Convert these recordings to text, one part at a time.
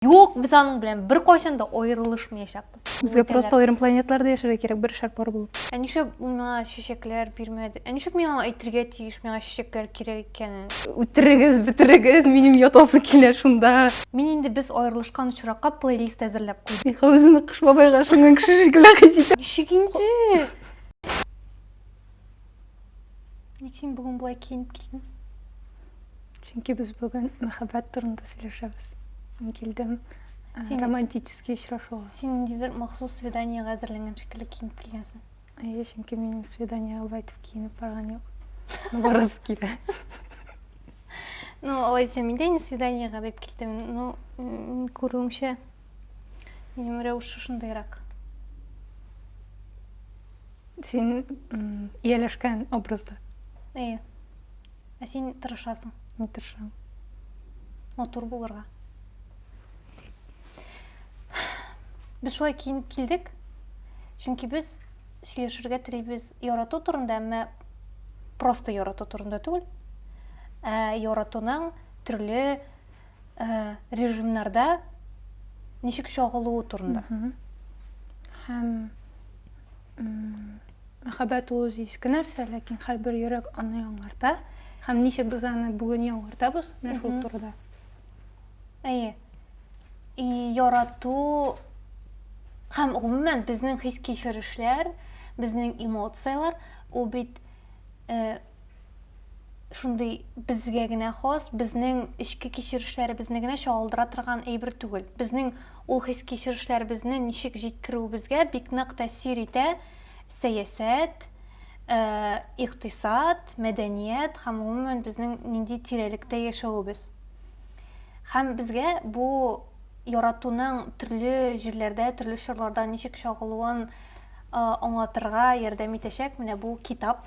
Юк, без аның белән бер кайчан да аерылышмаячакбыз. Безгә просто аерым планетларда яшәргә кирәк, бер шар пар булып. Ә нишләп ул миңа чәчәкләр бирмәде? Ә нишләп миңа әйтергә тиеш миңа чәчәкләр кирәк икәнен? Үтерегез, бетерегез, минем ятасы килә шунда. Мин инде без аерылышкан очракка плейлист әзерләп куйдым. Миха үземне Кыш бабайга ышанган кеше шикелле хис итә. Ничек инде? Ник син бүген болай киенеп килдең? Чөнки без бүген мәхәббәт турында сөйләшәбез. Мин килдем э, син... романтический очрашуга. Син ниндидер махсус свиданиега әзерләнгән шикелле киенеп килгәнсең. Әйе, чөнки минем свиданиега болай итеп киенеп барган юк. Барасы килә. Ну, алай дисәм, мин дә инде свиданиега дип килдем. Ну, күрүеңчә, Минем рәвеше шундыйрак. Син ияләшкән образда. Әйе. Ә син тырышасың. Мин тырышам. Матур булырга. Без шулай киенеп килдек. Чөнки без сөйләшергә телибез ярату турында, әмма просто ярату турында түгел. Ә яратуның төрле Э, режимнарда ничек чагылу турында һәм мәхәббәт ул үзе иске нәрсә ләкин һәрбер йөрәк аны яңарта һәм ничек без аны бүген яңартабыз менә шул турыда әйе и ярату һәм гомумән безнең хис кичерешләр безнең эмоцияләр ул бит э, шундый безгә генә хас, безнең эчке кичерешләребезне генә чагылдыра торган әйбер түгел. Безнең ул хис-кичерешләребезне ничек җиткерүебезгә бик нык тәэсир итә сәясәт, э, икътисад, мәдәният һәм гомумән безнең нинди тирәлектә яшәвебез. Һәм безгә бу яратуның төрле җирләрдә, төрле чорларда ничек чагылуын э, аңлатырга ярдәм итәчәк менә бу китап.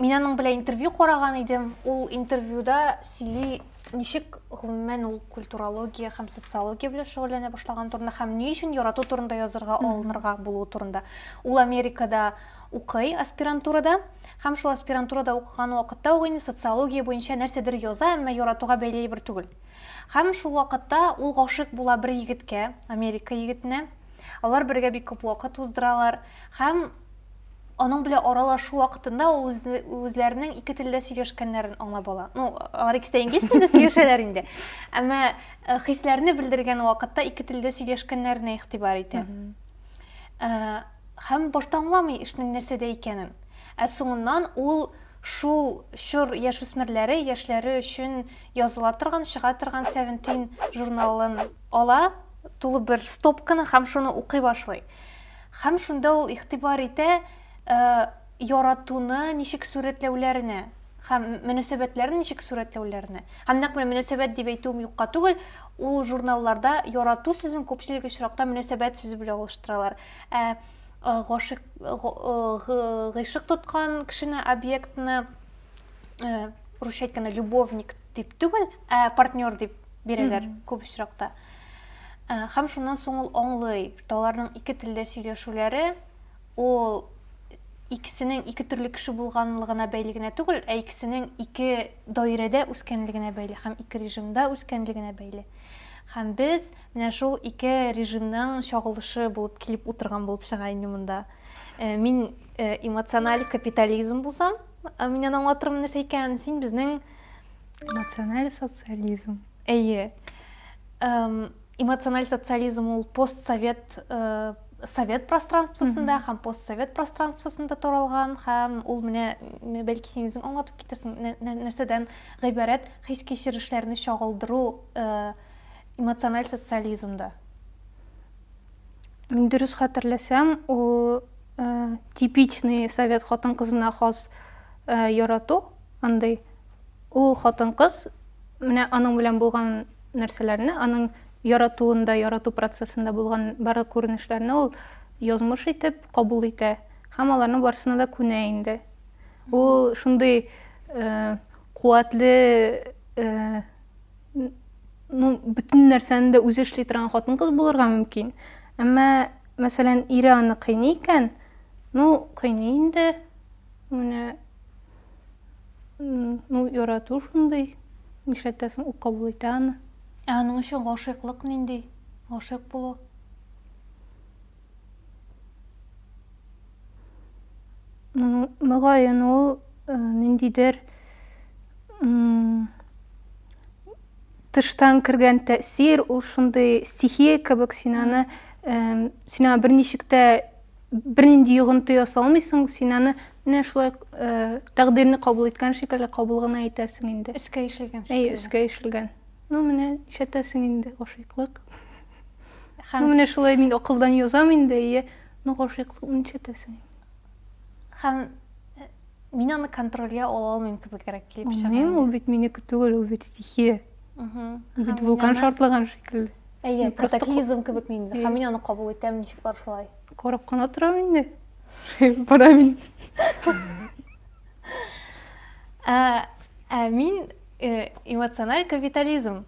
Мин аның белән интервью караган идем. Ул интервьюда сөйли, ничек гомумән ул культурология һәм социология белән шөгыльләнә башлаган турында һәм ни өчен ярату турында язырга алынырга булу турында. Ул Америкада укый аспирантурада һәм шул аспирантурада укыган вакытта ук инде социология буенча нәрсәдер яза, әмма яратуга бәйле бер түгел. Һәм шул вакытта ул гашык була бер егеткә, Америка егетенә. Алар бергә бик күп вакыт уздыралар һәм аның белән аралашу вакытында ул үзләренең ике телдә сөйләшкәннәрен аңлап ала. Ну, алар икесе дә инглиз телендә сөйләшәләр инде. Әмма э, хисләрне белдергән вакытта ике телдә сөйләшкәннәренә игътибар итә. Э, һәм башта аңламый эшнең нәрсәдә икәнен. Ә соңыннан ул шул чор яшүсмерләре яшьләре өчен языла торган, чыга торган Seventeen журналын ала, тулы бер стопканы һәм шуны укый башлый. Һәм шунда ул игътибар итә яратуны ничек сурәтләүләренә һәм мөнәсәбәтләрне ничек сурәтләүләренә. Һәм нәкъ менә мөнәсәбәт дип әйтүем юкка түгел, ул журналларда ярату сүзен күпчелек очракта мөнәсәбәт сүзе белән алыштыралар. Ә гашыйк гыйшык тоткан кешене объектны русча әйткәндә любовник дип түгел, ә партнер дип бирәләр күп очракта. Ә, һәм шуннан соң ул аңлый, что аларның ике телдә сөйләшүләре ул икесенең ике төрле кеше булганлыгына бәйле генә түгел, ә икесенең ике даирәдә үскәнлегенә бәйле һәм ике режимда үскәнлегенә бәйле. Һәм без менә шул ике режимның чагылышы булып килеп утырган булып чыга инде монда. Э, мин э, эмоциональ капитализм булсам, э, мин аның аңлатырмын нәрсә икәнен, син безнең эмоциональ социализм. Әйе. Эмоциональ социализм ул постсовет э, совет пространствосында һәм постсовет пространствосында таралган һәм ул менә бәлки син үзең аңлатып китерсең нәрсәдән гыйбарәт хис кичерешләрне чагылдыру э, эмоциональ социализмда мин дөрес хәтерләсәм ул э, типичный совет хатын кызына хас э, ярату андый Ул хатын-кыз менә аның белән булган нәрсәләрне, аның яратуында, ярату процессында булган барлык күренешләрне ул язмыш итеп кабул итә һәм аларның барсына да күнә инде. Ул шундый э, куәтле э, ну, бөтен нәрсәне дә үзе эшли торган хатын-кыз булырга мөмкин. Әмма, мәсәлән, ире аны кыйный икән, ну, кыйный инде, менә Ну, ярату шундый. Нишләтәсең, ул кабул итә аны. Ә аның өчен гашыйклык нинди? Гашыйк булу. Мөгаен ул э, ниндидер тыштан кергән тәэсир, ул шундый стихия кебек, син аны син аны берничек тә Бернинди йогынты ясалмыйсың, син аны менә шулай тәкъдирне кабул иткән шикелле кабул гына итәсең инде. Өскә ишелгән шикелле. Әйе, өскә ишелгән. Ну, менә ишәтәсең инде гашыйклык. Һәм менә шулай мин акылдан язам инде, әйе, ну гашыйклыкны ишәтәсең. Һәм мин аны контрольгә ала алмыйм кебегрәк килеп чыга. Ул бит минеке түгел, ул бит стихия. Бит вулкан шартлаган шикелле. Әйе, катаклизм кебек инде. Һәм мин аны кабул итәм, ничек бар шулай. Карап кына торам инде. Бара мин. Ә, ә мин э, эмоциональ капитализм.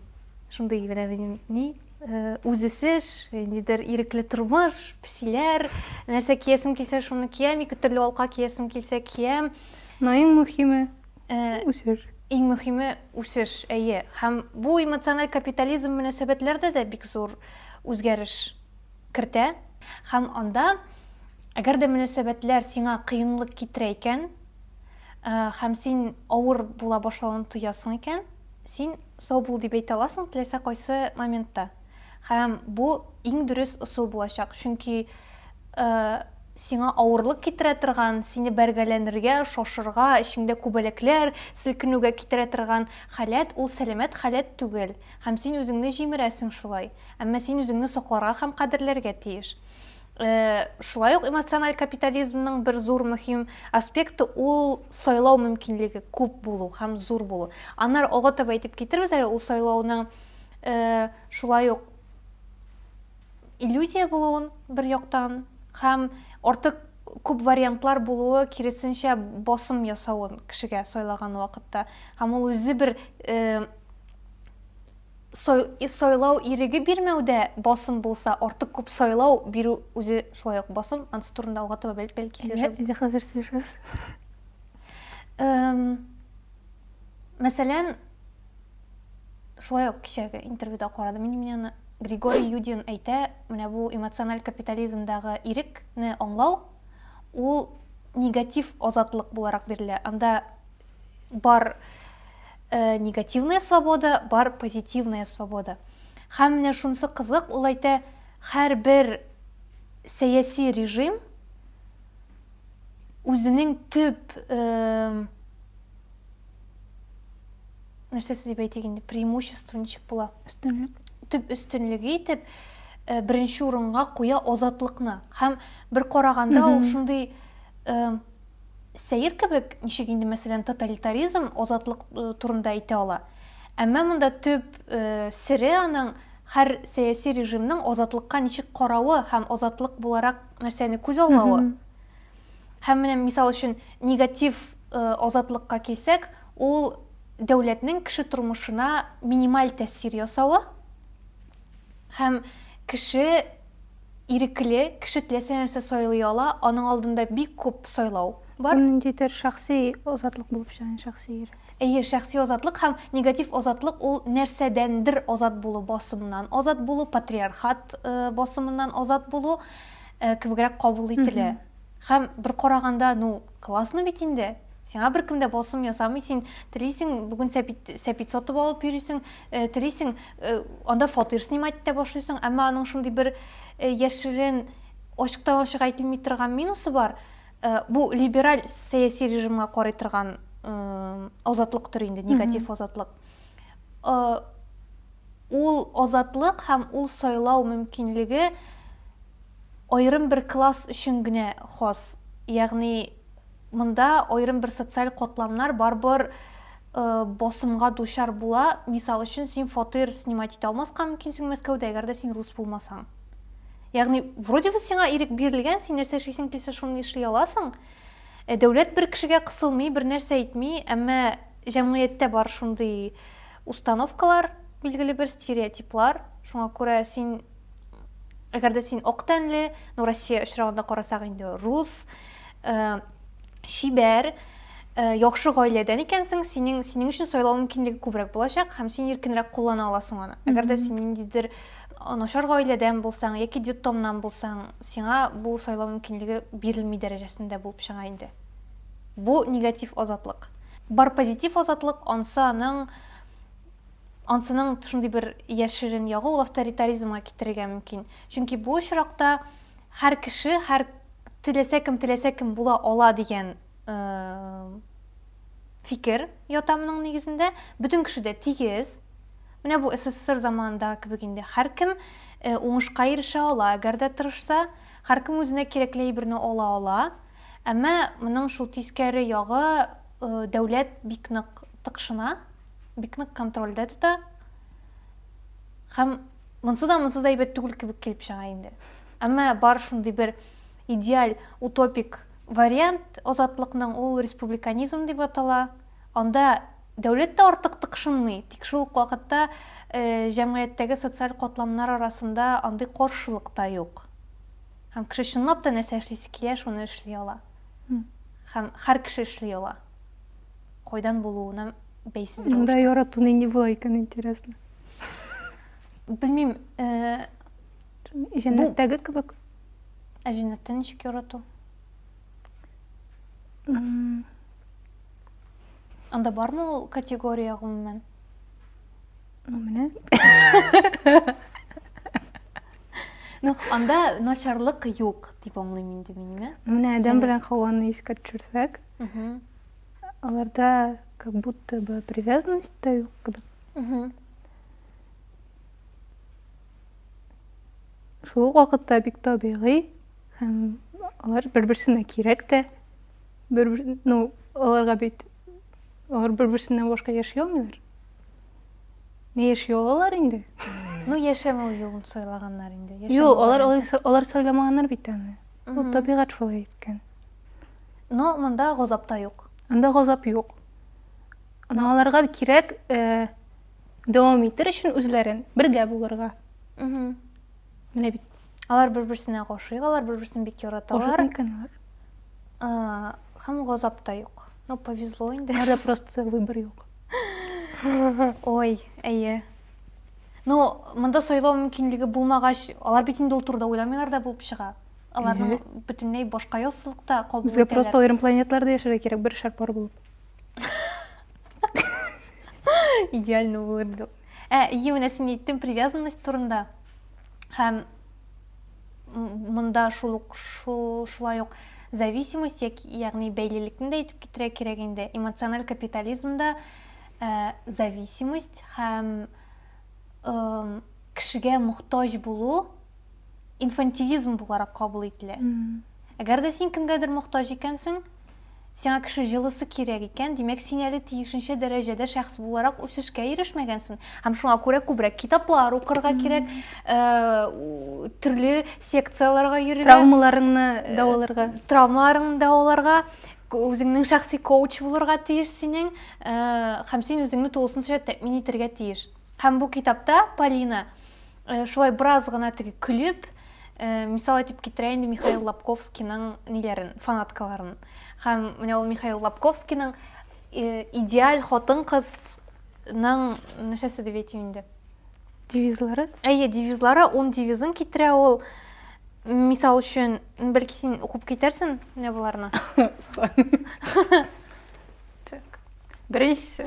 Шундый генә минем ни э, үз үсеш, нидер ирекле тормыш, псиләр, нәрсә киясем килсә, шуны киям, ике төрле алка киясем килсә, киям. Но иң мөһиме, Э, үсеш. Иң мөхиме үсеш, әйе. Һәм бу эмоциональ капитализм мөнәсәбәтләрдә дә бик зур үзгәреш кертә. Һәм анда әгәр дә мөнәсәбәтләр сиңа кыенлык китерә икән, э, һәм син авыр була башлавын тоясың икән, син сау бул дип әйтә аласың теләсә кайсы моментта. Һәм бу иң дөрес ысул булачак, чөнки сиңа авырлык китерә торган, сине бәргәләнергә, шашырга, эчеңдә күбәләкләр селкенүгә китерә торган халәт ул сәламәт халәт түгел, һәм син үзеңне җимерәсең шулай. Әмма син үзеңне сакларга һәм кадерләргә тиеш. Шулай ук эмоциональ капитализмның бер зур мөһим аспекты ул сайлау мөмкинлеге күп булу һәм зур булу. Аннары алга таба әйтеп китербез әле, ул сайлауның э, шулай ук иллюзия булуын бер яктан һәм артык күп вариантлар булуы киресенчә басым ясавын кешегә сайлаган вакытта һәм ул үзе бер э, сайлау иреге бирмәүдә басым булса артык күп сайлау бирү үзе шулай ук басым анысы турында алга таба бәлки сөйләшәбез хәзер сөйләшәбез мәсәлән шулай ук кичәге интервьюда карадым мин менә григорий юдин әйтә менә бу эмоциональ капитализмдагы ирекне аңлау ул негатив азатлык буларак бирелә анда бар э, негативная свобода бар позитивная свобода һәм менә шунысы кызык ул әйтә һәрбер сәяси режим үзенең төп э, нәрсәсе дип әйтик инде преимущество ничек була өстенлек төп өстенлеге итеп э, беренче урынга куя азатлыкны һәм бер караганда ул шундый э, сәер кебек ничек инде мәсәлән тоталитаризм азатлык э, турында әйтә ала әмма монда төп э, сере аның һәр сәяси режимның азатлыкка ничек каравы һәм азатлык буларак нәрсәне күз алуы Һәм менә, мисал өчен, негатив азатлыкка килсәк, ул дәүләтнең кеше тормышына минималь тәэсир ясавы һәм кеше ирекле, кеше теләсә нәрсә сайлый ала, аның алдында бик күп сайлау бар. Бу ниндидер шәхси азатлык булып чыга, шәхси ирек. Әйе, шәхси азатлык һәм негатив азатлык ул нәрсәдәндер азат булу, басымнан азат булу, патриархат басымыннан азат булу. кебегрәк кабул ителә. Һәм бер караганда, ну, классно бит инде. Сиңа беркем дә басым ясамый, син телисең, бүген сәпит, сәпит сатып алып йөрисең, э, телисең, э, анда фатир снимать итә башлыйсың, әмма аның шундый бер э, яшерен ачыктан ачык әйтелми торган минусы бар. Э, бу либераль сәяси режимга карый торган э, азатлыктыр инде, негатив азатлык. ул азатлык һәм ул сайлау мөмкинлеге аерым бер класс өчен генә хас. Ягъни монда аерым бер социаль катламнар барыбер басымга дучар була. Мисал өчен, син фатир снимать итә алмаска мөмкинсең Мәскәүдә, әгәр дә син рус булмасаң. Ягъни, вроде бы сиңа ирек бирелгән, син нәрсә эшлисең килсә, шуны эшли аласың. Ә дәүләт бер кешегә кысылмый, бер нәрсә әйтми, әмма Җәмгыятьтә бар шундый установкалар, билгеле бер стереотиплар. Шуңа күрә син әгәр дә син ак тәнле, ну Россия очрагында карасак инде рус, э, чибәр, э, яхшы гаиләдән икәнсең, синең синең өчен сайлау мөмкинлеге күбрәк булачак һәм син иркенрәк куллана аласың аны. Әгәр дә син ниндидер начар гаиләдән булсаң яки детдомнан булсаң, сиңа бу сайлау мөмкинлеге бирелми дәрәҗәсендә булып чыга инде. Бу негатив азатлык. Бар позитив азатлык, ансы аның, ансының шундый бер яшерен ягы ул авторитаризмга китерергә мөмкин. Чөнки бу очракта һәр кеше, һәр теләсә кем, теләсә кем була ала дигән фикер ята моның нигезендә. Бөтен кеше дә тигез. Менә бу СССР заманында кебек инде. Һәр кем уңышка ирешә ала, әгәр дә тырышса, һәр кем үзенә кирәкле әйберне ала ала. Әмма моның шул тискәре ягы, дәүләт бик нык тыкшына, бик нык контрольдә тота. Һәм монсы да монсыз әйбәт түгел кебек килеп чыга инде. Әмма бар шундый бер идеаль, утопик вариант азатлыкның, ул республиканизм дип атала. Анда дәүләт тә артык тыкшынмый, тик шул ук вакытта җәмгыятьтәге социаль катламнар арасында андый каршылык та юк. Һәм кеше чынлап та нәрсә эшлисе килә, шуны эшли ала. Һәм һәр кеше эшли ала. Кайдан булуына бәйсез рәвештә. Монда ярату нинди була икән, интересно. Белмим, э, Җәннәттәге кебек. Ә җәннәттә ничек ярату? Анда бармы ул категория гомумән? Ну, менә. Ну, анда начарлык юк, дип аңлыйм инде мин, менә. Менә адәм белән хаваны искә төшерсәк, аларда как будто бы привязанность та юк кебек. Шул вакытта бик табигый һәм алар бер-берсенә кирәк тә. Бер, ну, аларга бит Алар бер-берсеннән башка яши алмыйлар. Не яши алалар инде? Ну, яшәмәү юлын сайлаганнар инде. Юк, алар алар сайламаганнар бит аны. Ул табигать шулай иткән. Но монда газап та юк. Анда газап юк. Ана аларга кирәк э, дәвам итер өчен үзләрен бергә булырга. Менә бит. Алар бер-берсенә гашыйк, алар бер-берсен бик яраталар. Гашык микән алар? Э, һәм газап та юк. Ну, повезло инде. Аларда просто выбор юк. Ой, әйе. Ну, монда сайлау мөмкинлеге булмагач, алар бит инде ул турыда уйламыйлар да булып чыга. Аларның бөтенләй башка яссылыкта кабул итәләр. Безгә просто аерым планетларда яшәргә кирәк, бер шар пар булып. Идеально булырды. Ә, ие, менә син әйттең привязанность турында. Һәм монда шул ук шулай ук зависимость яки ягъни бәйлелекне дә әйтеп китерә кирәк инде эмоциональ капитализмда ә, зависимость һәм ә, кешегә мохтаҗ булу инфантилизм буларак кабул ителә әгәр дә син кемгәдер мохтаҗ икәнсең Сиңа кеше җылысы кирәк икән, димәк, син әле тиешенчә дәрәҗәдә шәхес буларак үсешкә ирешмәгәнсең. Һәм шуңа күрә күбрәк китаплар укырга кирәк, э, төрле секцияләргә йөрергә. Травмаларыңны э, дәваларга. Травмаларыңны дәваларга үзеңнең шәхси коуч булырга тиеш синең э, һәм син үзеңне тулысынча тәэмин итәргә тиеш һәм бу китапта полина э, шулай бераз гына теге көлеп э, мисал итеп китерә инде михаил лобковскийның ниләрен фанаткаларын һәм менә ул михаил лобковскийның э, идеаль хатын кызның нәрсәсе дип әйтим инде девизлары әйе девизлары ун девизын китерә ул мисал өчен бәлки син укып китәрсең менә боларны так беренчесе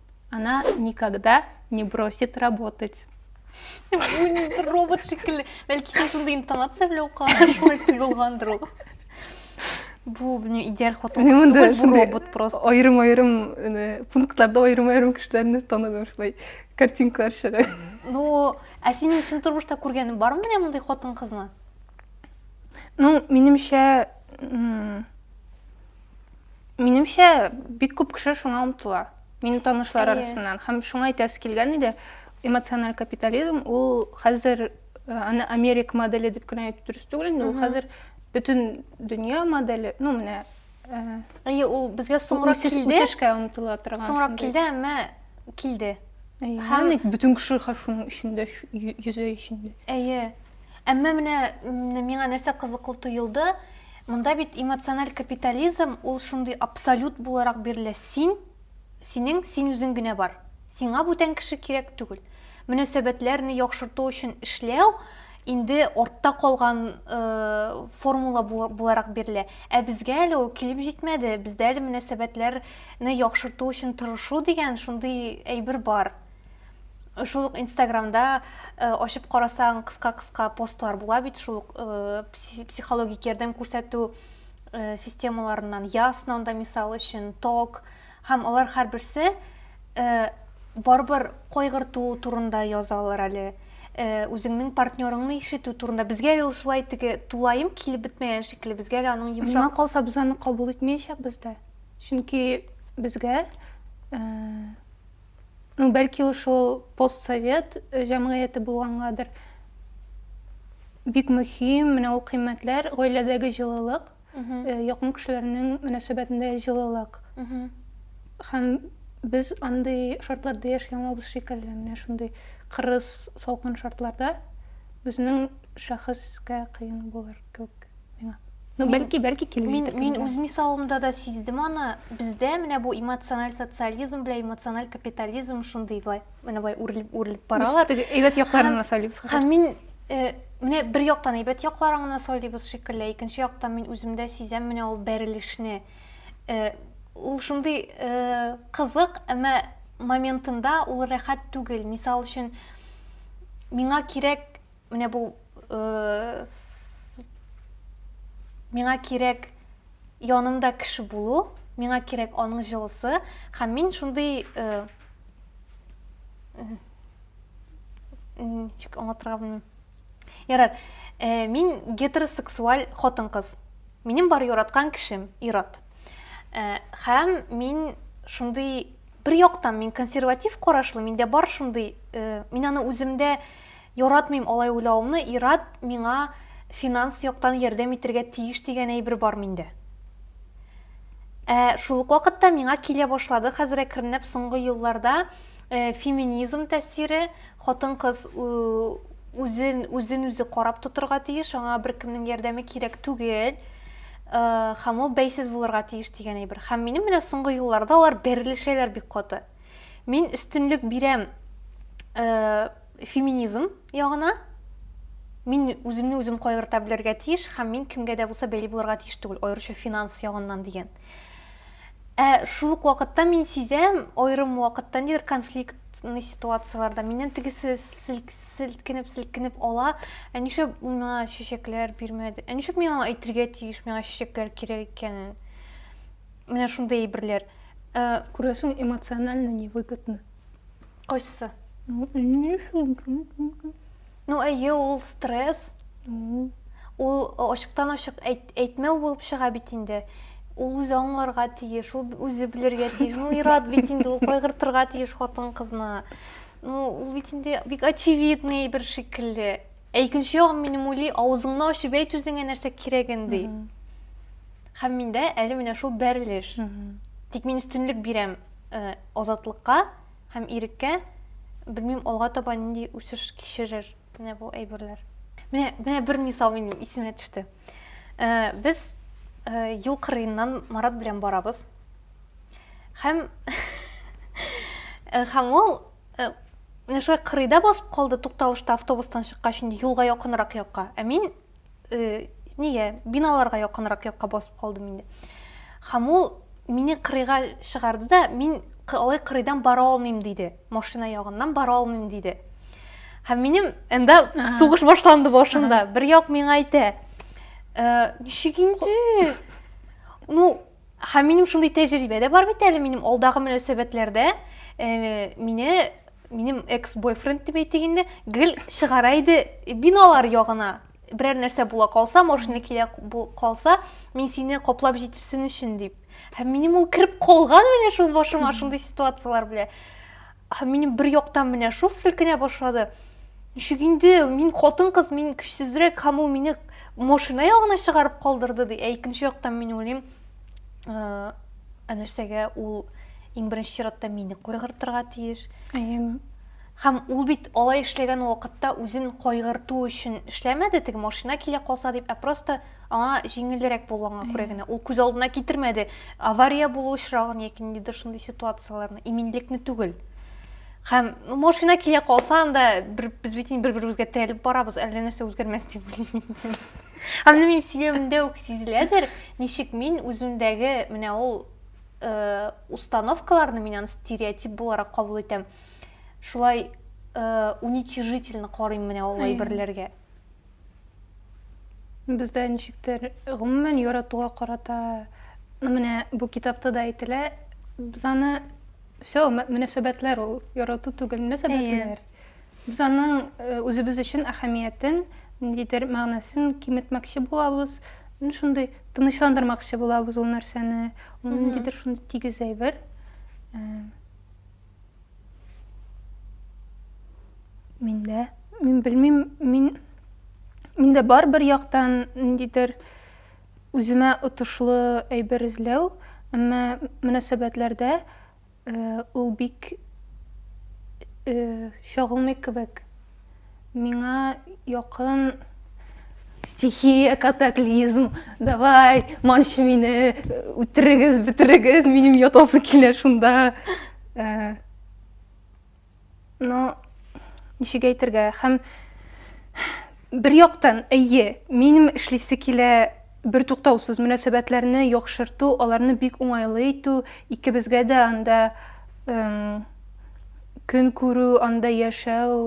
Она никогда не бросит работать. Робот шикелле. Бәлки син шундый интонация белән укыган, шулай тоелгандыр ул. Бу, белмим, идеаль хатын кыз түгел, бу робот просто. Аерым-аерым, пунктларда аерым-аерым кешеләрне таныдым, шулай картинкалар чыга. Ну, ә синең чын тормышта күргәнең бармы менә мондый хатын-кызны? Ну, минемчә, Минемчә, бик күп кеше шуңа омтыла. Минем танышлар арасыннан. Һәм шуңа әйтәсе килгән иде, эмоциональ капитализм ул хәзер э, аны Америк модели дип кенә әйтеп дөрес түгел инде, ул хәзер бөтен дөнья модели, ну менә э, Әйе, ул безгә соңрак үсеш- килде. үсешкә омтыла торган. Соңрак шундый. килде, әмма килде. Әйе, Һәм- һәм бит бөтен кеше хә- шуның эчендә, шу- йө- йөзе эчендә. Әйе. Әмма менә миңа нәрсә кызыклы тоелды, монда бит эмоциональ капитализм ул шундый абсолют буларак бирелә. Син, синең, син үзең генә бар. Сиңа бүтән кеше кирәк түгел. Мөнәсәбәтләрне яхшырту өчен эшләү инде артта калган э, формула буларак бирелә. Ә безгә әле ул килеп җитмәде. Бездә әле мөнәсәбәтләрне яхшырту өчен тырышу дигән шундый әйбер бар. шул ук инстаграмда э, ачып карасаң кыска кыска постлар була бит шул ук э, психологик ярдәм күрсәтү э, системаларыннан ясно да мисал өчен ток һәм алар һәрберсе барыбер кайгырту турында язалар әле үзеңнең партнерыңны ишетү турында безгә ул шулай теге тулаем килеп бетмәгән шикелле безгә әле аның йомшак миңа калса без аны кабул итмәячәкбез дә чөнки безгә Ну, бәлки уж ул постсовет э, җәмгыяте булгангадыр. Бик мөһим, менә ул кыйммәтләр, гаиләдәге җылылык, э, якын кешеләрнең мөнәсәбәтендә җылылык. Һәм без андый шартларда яши алмабыз шикелле, менә шундый кырыс, салкын шартларда безнең шәхескә кыен булыр. күк миңа ну бәлки бәлки килмидер мин үз мисалымда да сиздем аны бездә менә бу эмоциональ социализм белән эмоциональ капитализм шундый былай менә былай үрелеп үрелеп баралар әйбәт якларын мысалибыз һәм мин э, менә бер яктан әйбәт якларын гына сойлыйбыз шикелле икенче яктан мин үземдә сизәм менә ул бәрелешне э, ул шундый э, кызык әмма моментында ул рәхәт түгел мисал өчен миңа кирәк Менә бу э, миңа кирәк янымда кеше булу, миңа кирәк аның җылысы һәм мин шундый э, ничек аңлатырга белмим. Ярар, э, мин гетеросексуаль хатын-кыз. Минем бар яраткан кешем ир-ат. Э, һәм мин шундый бер яктан мин консерватив карашлы, миндә бар шундый, э, мин аны үземдә Яратмыйм алай уйлавымны, ир-ат миңа финанс яктан ярдәм итергә тиеш дигән әйбер бар миндә. Ә шул ук вакытта миңа килә башлады хәзер әкренләп соңгы елларда э, феминизм тәэсире, хатын-кыз үзен үзен үзе карап тотырга тиеш, аңа беркемнең ярдәме кирәк түгел. Э, һәм ул бәйсез булырга тиеш дигән әйбер. Һәм минем менә соңгы елларда алар бәрелешәләр бик каты. Мин өстенлек бирәм э, Феминизм ягына мин үземне үзем кайгырта белергә тиеш һәм мин кемгә дә булса бәйле булырга тиеш түгел, аеруча финанс ягыннан дигән. Ә шул ук вакытта мин сизәм, аерым вакытта нидер конфликт конфликтный ситуацияләрдә миннән тегесе селкенеп селкенеп ала ә нишләп ул миңа чәчәкләр бирмәде ә нишләп мин аңа әйтергә тиеш миңа чәчәкләр кирәк икәнен менә шундый әйберләр күрәсең эмоционально невыгодно Кайсы? Ну, әйе, ул стресс. Ул ачыктан ачык әйтмәү булып чыга бит инде. Ул үзе аңларга тиеш, ул үзе белергә тиеш. Ну, ират бит инде ул кайгыртырга тиеш хатын кызны. Ну, ул бит инде бик очевидный бер шикелле. Ә икенче ягым минем уйлый, авызыңны ачып әйт үзеңә нәрсә кирәген ди. Һәм миндә әле менә шул бәрелеш. Тик мин өстенлек бирәм э, азатлыкка, Һәм иреккә, белмим, алга таба нинди үсеш кичерер менә бу әйберләр. Менә, менә бер мисал минем исемә төште. Э, без э, юл кырыеннан Марат белән барабыз. Һәм э, һәм ул менә шулай кырыйда басып калды тукталышта автобустан чыккач инде юлга якынрак якка. Ә мин э, нигә биналарга якынрак якка басып калдым инде һәм ул мине кырыйга чыгарды да мин алай кырыйдан бара алмыйм диде машина ягыннан бара алмыйм диде һәм минем анда сугыш башланды башымда бер як миңа әйтә э, ничек инде ну Һәм минем шундый тәҗрибә дә бар бит әле минем алдагы мөнәсәбәтләрдә э, мине минем экс-бойфренд дип әйтик инде, гел чыгара иде биналар ягына. Берәр нәрсә була калса, машина килә калса, мин сине каплап җитешсен өчен дип. Һәм минем ул кереп калган менә шул башыма шундый ситуацияләр белән. Ә минем бер яктан менә шул селкенә башлады. Ничек инде, мин хатын-кыз, мин көчсезрәк, һәм ул мине машина ягына чыгарып калдырды, ди. Ә икенче яктан мин уйлыйм, ә, ә нәрсәгә ул иң беренче чиратта мине кайгыртырга тиеш? Әйе. Һәм ул бит алай эшләгән вакытта үзен кайгырту өчен эшләмәде, теге машина килә калса дип, ә просто аңа җиңелрәк булганга күрә генә ул күз алдына китермәде авария булу очрагын яки ниндидер шундый ситуацияләрне иминлекне түгел һәм ну, машина килә калса анда бер, без бит инде бер беребезгә терәлеп барабыз әллә нәрсә үзгәрмәс дип уйлыйм һәм менә минем сөйләвемдә үк сизеләдер ничек мин үземдәге менә ул э, установкаларны мин аны стереотип буларак кабул итәм шулай э, уничижительно карыйм менә ул әйберләргә Бездә ничектер гомумән яратуга карата ну, менә бу китапта да әйтелә, без аны все мөнәсәбәтләр ул, ярату түгел, мөнәсәбәтләр. Без аның э, үзебез өчен әһәмиятен, ниндидер мәгънәсен киметмәкче булабыз, ну, шундый тынычландырмакчы булабыз ул нәрсәне, ул ниндидер шундый тигез әйбер. Э, Миндә, мин белмим, мин миндә бар бер яктан ниндидер үземә отышлы әйбер эзләү, әмма мөнәсәбәтләрдә э, ул бик э, чагылмый кебек. Миңа якын стихия, катаклизм, давай, манчы мине, үтерегез, бетерегез, минем ятасы килә шунда. Э, но ничек әйтергә, һәм бер яктан, әйе, минем эшлисе килә Бертуктаусыз мөнәсәбәтләрне яхшырту, аларны бик уңайлы итү, икебезгә дә анда көн күрү, анда яшәү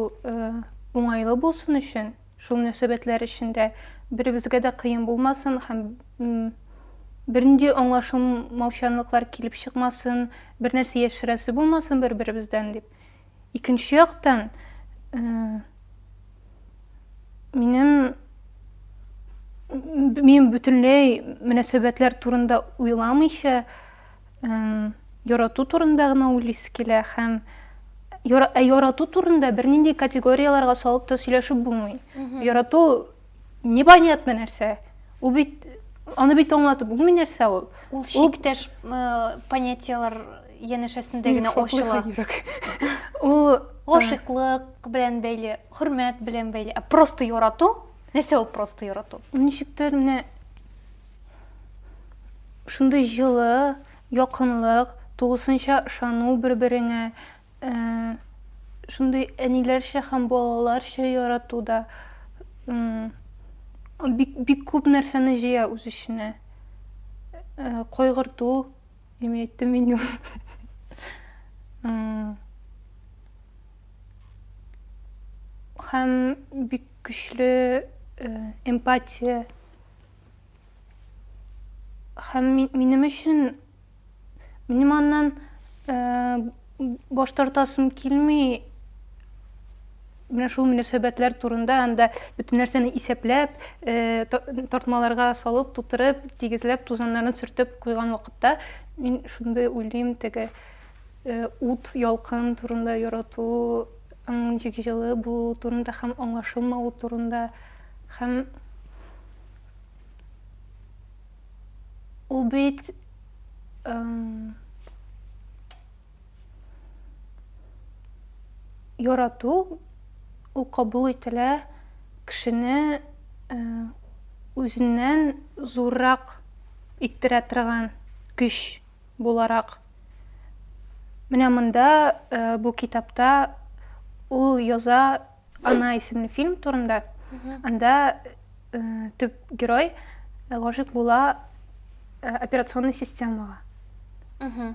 уңайлы булсын өчен, шул мөнәсәбәтләр эчендә беребезгә дә кыен булмасын һәм бернинди аңлашылмаучанлыклар килеп чыкмасын, бернәрсә яшерәсе булмасын бер-беребездән дип. Икенче яктан, минем мин бөтенләй мөнәсәбәтләр турында уйламыйча ярату турында гына уйлыйсы килә һәм ә ярату турында бернинди категорияларга салып та сөйләшеп булмый ярату непонятно нәрсә ул бит аны бит аңлатып булмый нәрсә ул ул чиктәш понятиялар янәшәсендә генә ачыла. Ул гашыйклык белән бәйле, хөрмәт белән бәйле, ә просто ярату, нәрсә ул просто ярату? Ничектер менә шундый җылы, якынлык, тулысынча ышану бер-береңә, э, шундый әниләрчә һәм балаларча ярату да бик, бик күп нәрсәне җыя үз эченә. Э, кайгырту, Имеется меню. Һәм бик көчле эмпатия. Һәм минем өчен минем аннан Баш тартасым килми, менә шул мөнәсәбәтләр турында анда бөтен нәрсәне исәпләп, э, тартмаларга салып, тутырып, тигезләп, тузаннарын сөртеп куйган вакытта мин шундый уйлыйм, теге э, ут, ялкын турында ярату, ничек җылы булу турында һәм аңлашылмау турында һәм Ул бит ярату ул кабул ителә кешене э, үзеннән зуррак иттерә торган көч буларак менә монда э, бу китапта ул яза Ана исемле фильм турында. Анда э, төп герой гашык була э, операционный системага.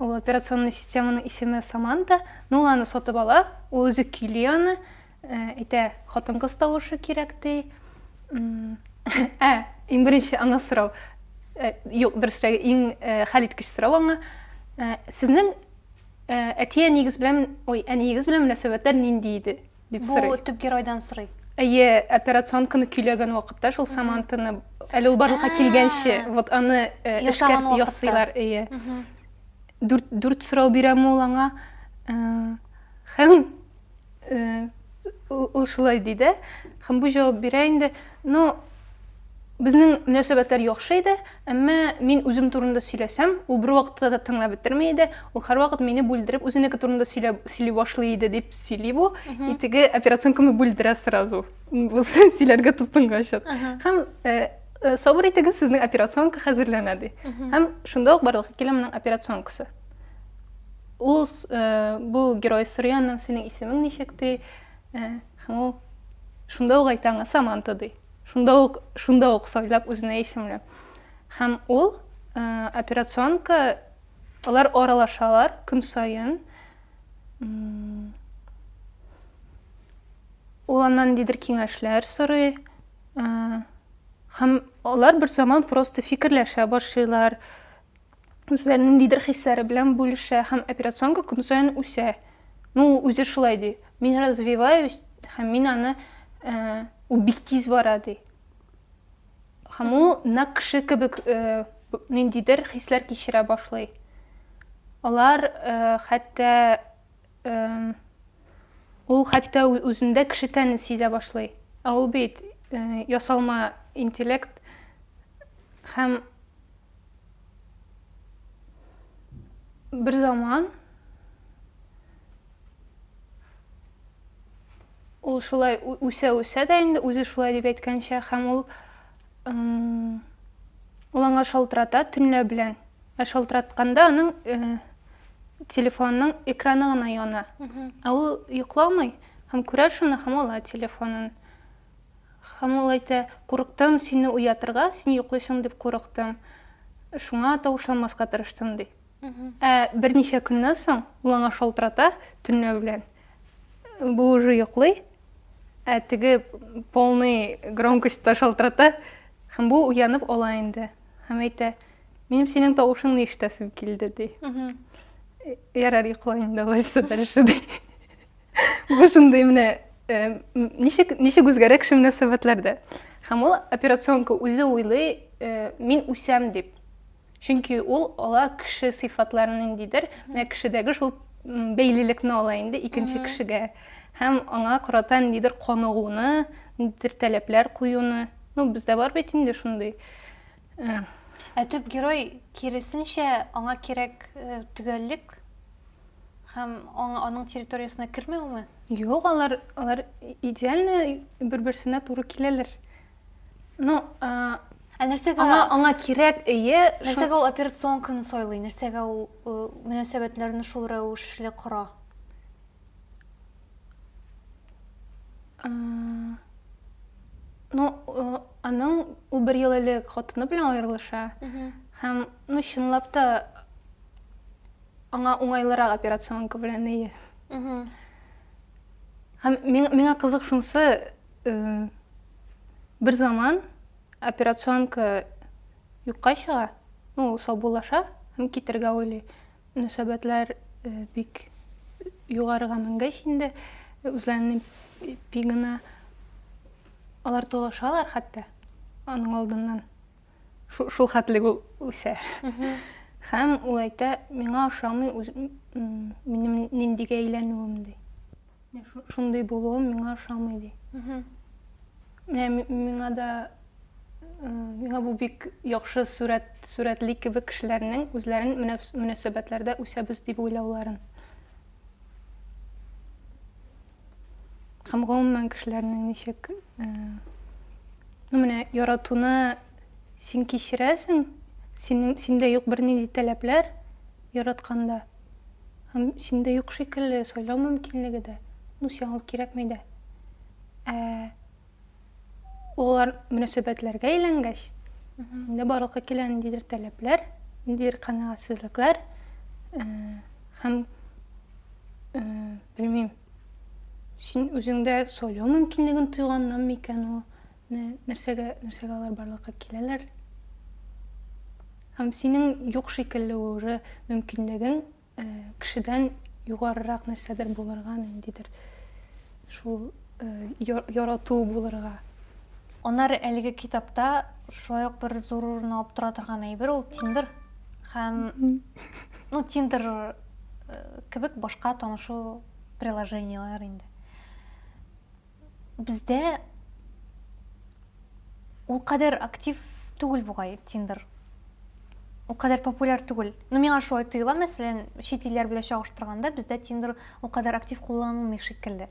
Ул операционный системаның исеме Саманта, но ул аны сатып ала, ул үзе көйли аны, э, әйтә, хатын-кыз тавышы кирәк ди. М, Ә, иң беренче аңа сорау. Э, Юк, дөресрәге, иң э, хәл иткеч сорау аңа. Э, Сезнең Ә, әти-әниегез белән, ой, әниегез белән мөнәсәбәтләр нинди иде? дип сорый. Бу төп геройдан сорый. Әйе, операционканы көйләгән вакытта шул Самантаны, әле ул барлыкка килгәнче, вот аны э, эшкәрт ясыйлар, әйе. Дүрт, дүрт сорау бирәм ул аңа. Э, һәм Ул шулай ди дә, һәм бу җавап бирә инде, Ну, безнең мөнәсәбәтләр яхшы иде, әмма мин үзем турында сөйләсәм, ул бервакытта да тыңлап бетерми иде, ул һәрвакыт мине бүлдереп, үзенеке турында сөйли башлый иде, дип сөйли бу, и теге операционканы бүлдерә сразу, сөйләргә тотынгачык. Һәм сабыр итегез, сезнең операционка хәзерләнә, ди. Һәм шунда ук барлыкка килә моның операционкасы. Ул э, бу герой сорый аннан синең исемең ничек ди? Э, һәм ул шунда ук әйтә аңа Саманта ди. Шунда ук шунда ук сайлап үзенә исемләп. Һәм ул э, операционка алар аралашалар көн саен. Ул аннан нидер киңәшләр сорый. Э, һәм алар бер заман просто фикерләшә башлыйлар. үзләренең ниндидер хисләре белән бүлешә һәм операционка көн саен үсә. Ну, ул үзе шулай ди. Мин развиваюсь һәм мин аны э, ул бик тиз бара ди. Һәм ул нәкъ кеше кебек э, б- ниндидер хисләр кичерә башлый. Алар э, хәтта эм, ул хәтта ү- үзендә кеше тәнен сизә башлый. Ә ул бит э, ясалма интеллект һәм Бер заман ул шулай үсә-үсә дә инде үзе шулай дип әйткәнчә һәм ул ул аңа шалтырата төнлә белән ә шалтыратканда аның э, телефонның экраны гына яна ә ул йокламый һәм күрә шуны һәм ала телефонын Һәм ул әйтә, Курыктым сине уятырга, син йоклыйсың дип курыктым, шуңа тавышламаска тырыштым, ди. Ә берничә көннән соң ул аңа шалтырата төнлә белән. Бу уже йоклый, ә теге полный громкостьта шалтырата, һәм бу уянып ала инде. Һәм әйтә, Минем синең тавышыңны ишетәсем килде, ди. Ярар, йокла инде алайса дальше, ди. Бу шундый менә э, ничек ничек үзгәрә кеше мөнәсәбәтләрдә. Һәм ул операционка үзе уйлый, э, мин үсәм дип. Чөнки ул ала кеше сыйфатларын ниндидер, менә кешедәге шул бәйлелекне ала инде икенче кешегә. Һәм аңа карата ниндидер каныгуны, ниндидер таләпләр куюны. Ну, бездә бар бит инде шундый. Э. Ә төп герой киресенчә аңа кирәк э, төгәллек һәм аның территориясенә кермәүме? Юк, алар алар идеально бер-берсенә туры киләләр. Ну, э, Ә нәрсәгә аңа, аңа кирәк ие нәрсәгә ул операционканы сайлый нәрсәгә ул э, мөнәсәбәтләрне шул рәвешле кора Ну, аның ул бер ел элек хатыны белән аерылыша. Һәм, ну, чынлап та аңа уңайлырак операционка белән ие. Һәм миңа кызык шунсы, бер заман операционка юкка чыга, ну, саубуллаша һәм китергә уйлый. Мөнәсәбәтләр бик югарыга менгәч инде, үзләренең пигына алар талашалар хәтта аның алдыннан. Шул хәтле ул үсә. Һәм ул әйтә, миңа ошамый минем ниндигә әйләнүем ди. Шундый булуым миңа ошамый ди. Менә миңа да миңа бу бик яхшы сурәт сурәтли кебек кешеләрнең үзләрен мөнәсәбәтләрдә үсәбез дип уйлауларын. Һәм гомумән кешеләрнең ничек ну менә яратуны син кичерәсең, синең синдә юк бернинди таләпләр яратканда. Һәм синдә юк шикелле сайлау мөмкинлеге дә. Ну, сиңа ул кирәкми дә. Ә олылар мөнәсәбәтләргә әйләнгәч, синдә барлыкка килә ниндидер таләпләр, ниндидер канәгатьсезлекләр э, һәм э, белмим, син үзеңдә сайлау мөмкинлеген тойганнан микән ул, Нәрсәгә, нәрсәгә алар барлыкка киләләр? Һәм синең юк шикелле уже мөмкинлеген э, кешедән югарырак нәрсәдер булырга, ниндидер шул э, ярату булырга. Анар әлеге китапта шулай ук бер зур урын алып тора торган әйбер ул Тиндер һәм ну Тиндер э, кебек башка танышу приложениеләр инде. Бездә ул кадәр актив түгел бугай Тиндер. Ул кадәр популяр түгел. Ну, миңа шулай тоела, мәсәлән, чит илләр белән чагыштырганда, бездә Тиндер ул кадәр актив кулланылмый шикелле.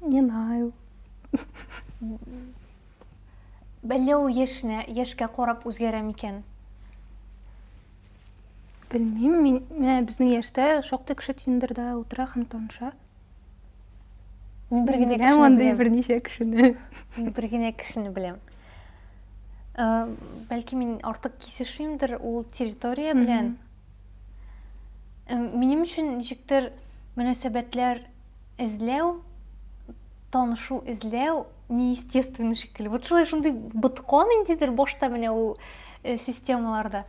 Не знаю. Әллә ул яшенә, яшькә карап үзгәрә микән? Белмим, мин, ә, безнең яшьтә шактый кеше Тиндерда утыра һәм таныша. Мин бер генә кешене андый берничә кешене. Мин бер генә кешене беләм. Ә, бәлки мин артык кисешмимдер ул территория белән. Ә, минем өчен ничектер мөнәсәбәтләр эзләү, танышу эзләү неестественный шикелле вот шулай шундый боткан ниндидер башта менә ул э, системаларда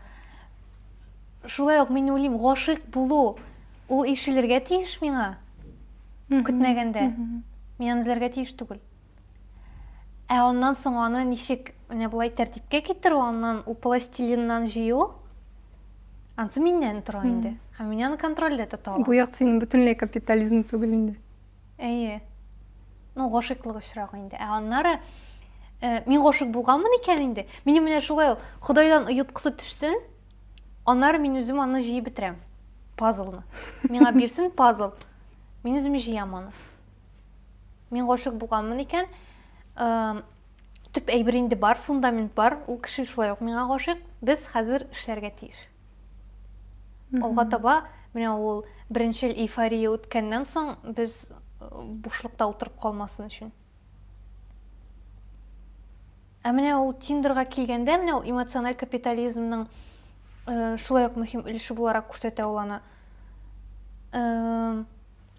шулай ук мин уйлыйм гашыйк булу ул ишелергә тиеш миңа көтмәгәндә мин аны эзләргә тиеш түгел ә аннан соң аны ничек менә болай тәртипкә китерү аннан ул пластилиннан җыю анысы миннән тора инде һәм мин аны контрольдә тота алам бу як синең бөтенләй капитализм түгел инде Әйе. Ну, гашыйклык очрагы инде. Ә аннары э, мин гашык булганмын икән инде. Минем менә шулай ул Худайдан ояткысы төшсен, аннары мин үзем аны җыеп бетерәм. Пазлны. Миңа бирсен пазл. Мин үзем җыям аны. Мин гашык булганмын икән, э, төп әйбер инде бар, фундамент бар. Ул кеше шулай ук миңа гашык. Без хәзер эшләргә тиеш. Алга таба менә ул беренчел эйфория үткәннән соң без э, бушлыкта утырып калмасын өчен. Ә менә ул Тиндерга килгәндә, менә ул эмоциональ капитализмның э, шулай ук мөһим өлеше буларак күрсәтә ул аны. Э,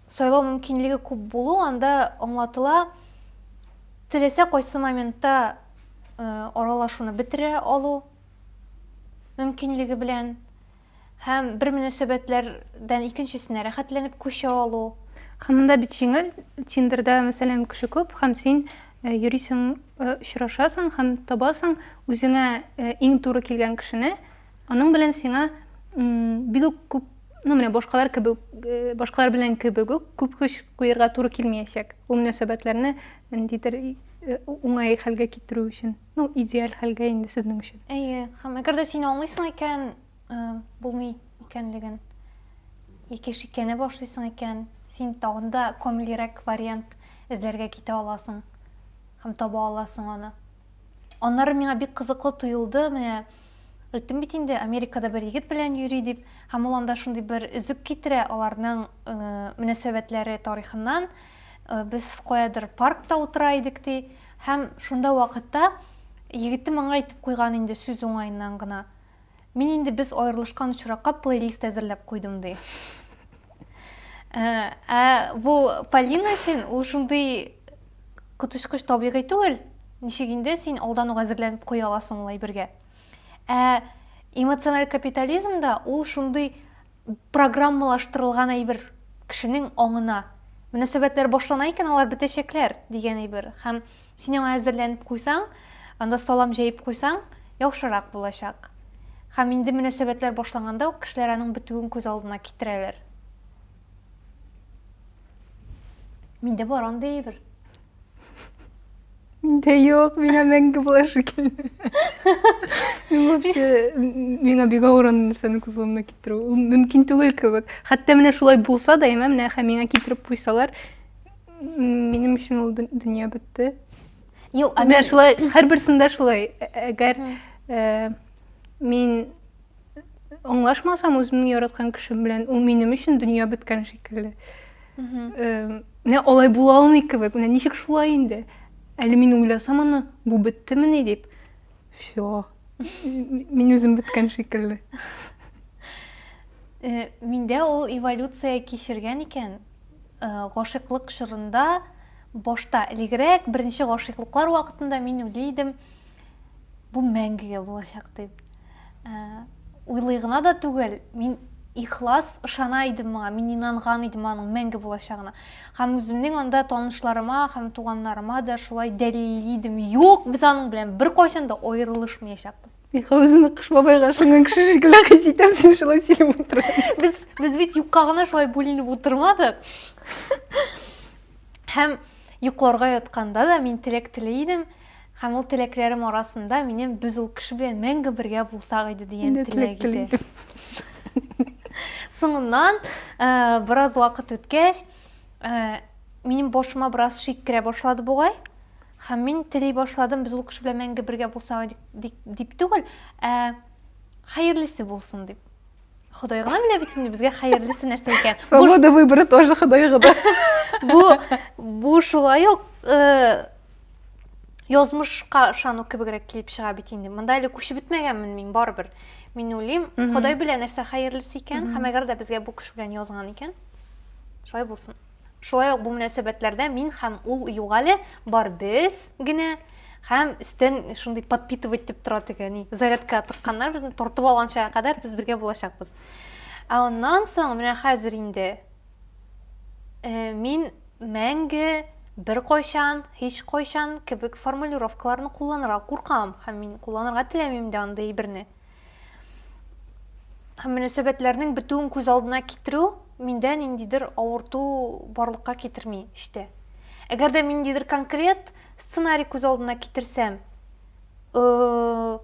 сайлау мөмкинлеге күп булу анда аңлатыла теләсә кайсы моментта э, аралашуны бетерә алу мөмкинлеге белән һәм бер мөнәсәбәтләрдән икенчесенә рәхәтләнеп күчә алу. Һәм монда бит җиңел, Тиндерда, мәсәлән, кеше күп һәм син э, йөрисең, э, очрашасың һәм табасың үзеңә э, иң туры килгән кешене, аның белән сиңа бик үк күп ну менә башкалар кебек э, башкалар белән кебек үк күп көч куярга туры килмәячәк ул мөнәсәбәтләрне ниндидер э, уңай хәлгә китерү өчен Ну, идеаль хәлгә инде сезнең өчен. Әйе, һәм әгәр дә син аңлыйсың икән, э, булмый икәнлеген, яки шикләнә башлыйсың икән, син тагын да камилрәк вариант эзләргә китә аласың һәм таба аласың аны. Аннары миңа бик кызыклы тоелды, менә әйттем бит инде, Америкада бер егет белән йөри дип, һәм ул анда шундый бер өзек китерә аларның э, мөнәсәбәтләре тарихыннан. Э, без каядыр паркта утыра идек ди. Һәм шунда вакытта егетем аңа әйтеп куйган инде сүз уңаеннан гына, Мин инде без аерылышкан очракка плейлист әзерләп куйдым, ди. Ә бу Полина өчен ул шундый коточкыч табигый түгел, ничек инде син алдан ук әзерләнеп куя аласың ул әйбергә. Ә эмоциональ капитализмда ул шундый программалаштырылган әйбер кешенең аңына мөнәсәбәтләр башлана икән алар бетәчәкләр дигән әйбер һәм син аңа әзерләнеп куйсаң анда салам җәеп куйсаң яхшырак булачак һәм инде мөнәсәбәтләр башланганда ук кешеләр аның бетүен күз алдына китерәләр миндә бар андый әйбер Миндә юк, миңа мәңге болай шикелле. Мин вообще миңа бик авыр аны нәрсәне күз алдына китерү. Ул мөмкин түгел кебек. Хәтта менә шулай булса да, яме менә хә миңа китереп куйсалар, м, минем өчен ул дө- дөнья бетте. Юк, а Менә мин шулай, һәрберсендә шулай. Ә- Әгәр э, мин аңлашмасам үземнең яраткан кешем белән ул минем өчен дөнья беткән шикелле менә алай була алмый кебек менә ничек шулай инде әле мин уйласам аны бу беттемени дип все мин үзем беткән шикелле э, миндә ул эволюция кичергән икән э, гашыйклык чорында башта элегрәк беренче гашыйклыклар вакытында мин уйлый идем бу мәңгегә булачак дип уйлый гына да түгел мин ихлас ышана идем моңа мин инанган идем аның мәңге булачагына һәм үземнең анда танышларыма һәм туганнарыма да шулай дәлилли идем юк без аның белән беркайчан да аерылышмаячакбыз үзеңне кыш бабайга ышанган кеше шикелле хис итәм син шулай сөйләп утырасың без без бит юкка гына шулай бүленеп утырмадык һәм йокларга ятканда да мин теләк тели идем Һәм ул теләкләрем арасында минем без ул кеше белән мәңге бергә булсак иде дигән теләк иде. Соңыннан, бераз вакыт үткәч, минем башыма бераз шик керә башлады бугай. Һәм мин тели башладым, без ул кеше белән мәңге бергә булсак дип түгел, ә хәерлесе булсын дип. Ходай гына белә бит инде безгә хәерлесе нәрсә икән. Свобода выбора тоже Ходай гына. Бу бу шулай ук э, язмышка ышану кебегрәк килеп чыга бит инде. Монда әле күчеп бетмәгәнмен мин барыбер. Мин уйлыйм, Ходай белә нәрсә хәерлесе икән, һәм әгәр дә безгә бу кеше белән язган икән, шулай булсын. Шулай ук бу мөнәсәбәтләрдә мин һәм ул юк әле, бар без генә һәм өстән шундый подпитывать дип тора теге, ни, зарядка тыкканнар безне тартып алганчага кадәр без бергә булачакбыз. Ә аннан соң менә хәзер инде э, мин мәңге бер кайчан, һич кайчан кебек формулировкаларны кулланырга куркам һәм мин кулланырга теләмим дә андый әйберне. һәм мөнәсәбәтләрнең бетүен күз алдына китерү миндә ниндидер авырту барлыкка китерми эчтә. Әгәр дә ниндидер конкрет сценарий күз алдына китерсәм, э,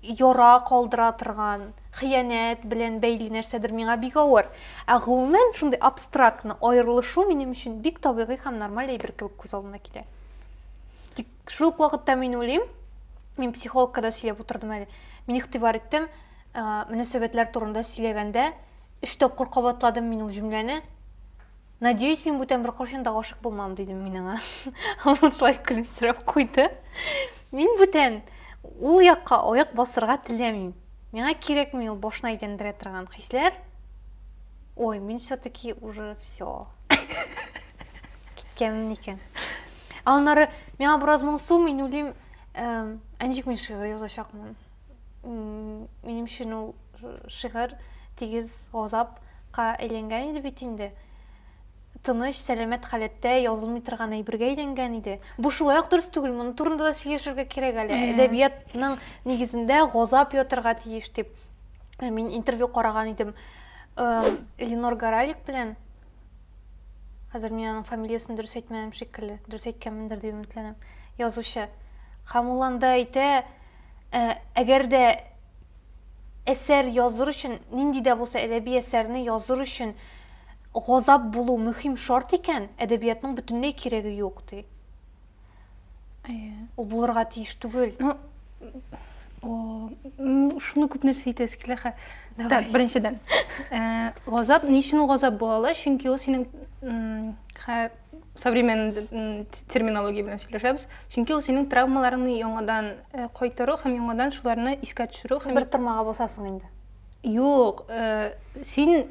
яра калдыра торган, хыянәт белән бәйле нәрсәдер миңа бик авыр. Ә гомумән шундый абстрактны аерылышу минем өчен бик табигый һәм нормаль әйбер кебек күз алдына килә. Шул ук вакытта мин уйлыйм, мин психологка да сөйләп утырдым әле. Мин игътибар иттем, мөнәсәбәтләр турында сөйләгәндә, өч тапкыр кабатладым мин ул җөмләне. Надеюсь, мин бүтән бер кашын да гашык булмам, дидем мин аңа. Ул шулай көлемсерәп куйды. Мин бүтән ул якка аяк басырга теләмим. Миңа кирәкми ул башына әйләндерә торган хисләр. Ой, мин все-таки уже все. Киткәнмен икән. Ә аннары миңа бераз моңсу, мин уйлыйм, ә ничек мин шигырь язачакмын? Минем өчен ул шигырь тигез газапка әйләнгән иде бит инде. Тыныч, сәламәт халәттә язылмый торган әйбергә әйләнгән иде. Бу шулай ук дөрес түгел, моның турында да сөйләшергә кирәк әле. Әдәбиятның нигезендә газап ятырга тиеш дип. Мин интервью караган идем Ленор Гаралик белән Хәзер мин аның фамилиясен дөрес әйтмәдем шикелле. Дөрес әйткәнмендер дип өметләнәм. Язучы. Һәм ул анда әйтә, ә, әгәр дә әсәр языр өчен, нинди дә булса әдәби әсәрне языр өчен газап булу мөһим шарт икән, әдәбиятның бөтенләй кирәге юк, ди. ул булырга тиеш түгел ну шуны күп нәрсә әйтәсе килә хә так беренчедән э, газап ни өчен ул газап була ала чөнки ул синең современный терминология белән сөйләшәбез чөнки ул синең травмаларыңны яңадан э, кайтару һәм яңадан шуларны искә төшерү һәм бер тормага басасың инде юк э, син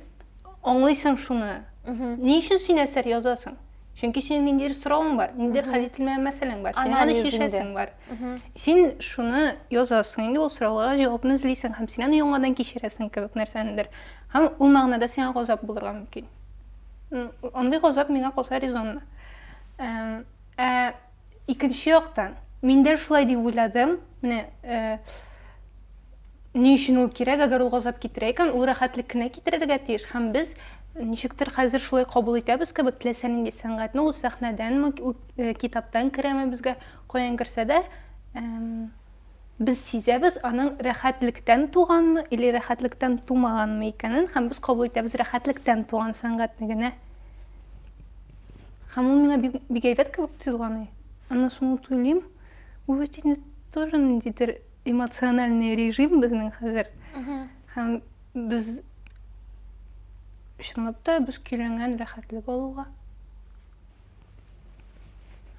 аңлыйсың шуны ни өчен син әсәр язасың чөнки синең ниндидер соравың бар ниндидер хәл ителмәгән мәсьәләң бар синең аны чишәсең бар син шуны язасың инде ул сорауларга җавапны эзлисең һәм син аны яңадан кичерәсең кебек нәрсәнедер һәм ул мәгънәдә сиңа газап булырга мөмкин андый газап миңа калса резонлы ә Икенче яктан, мин дә шулай дип уйладым. Менә ни өчен ул кирәк, әгәр ул газап китерә икән, ул рәхәтлек кенә китерергә тиеш. Һәм без ничектер хәзер шулай кабул итәбез кебек, теләсә нинди сәнгатьне ул сәхнәдәнме, китаптан керәме безгә, каян керсә дә, без сизәбез аның рәхәтлектән туганмы или рәхәтлектән тумаганмы икәнен, һәм без кабул итәбез рәхәтлектән туган сәнгатьне генә. Һәм ул миңа бик, бик әйбәт кебек тоелганы. Аннан соң ул туйлыйм. Бу бит инде тоже ниндидер эмоциональный режим безнең хәзер. Һәм без чынлап та без көйләнгән рәхәтлек алуга.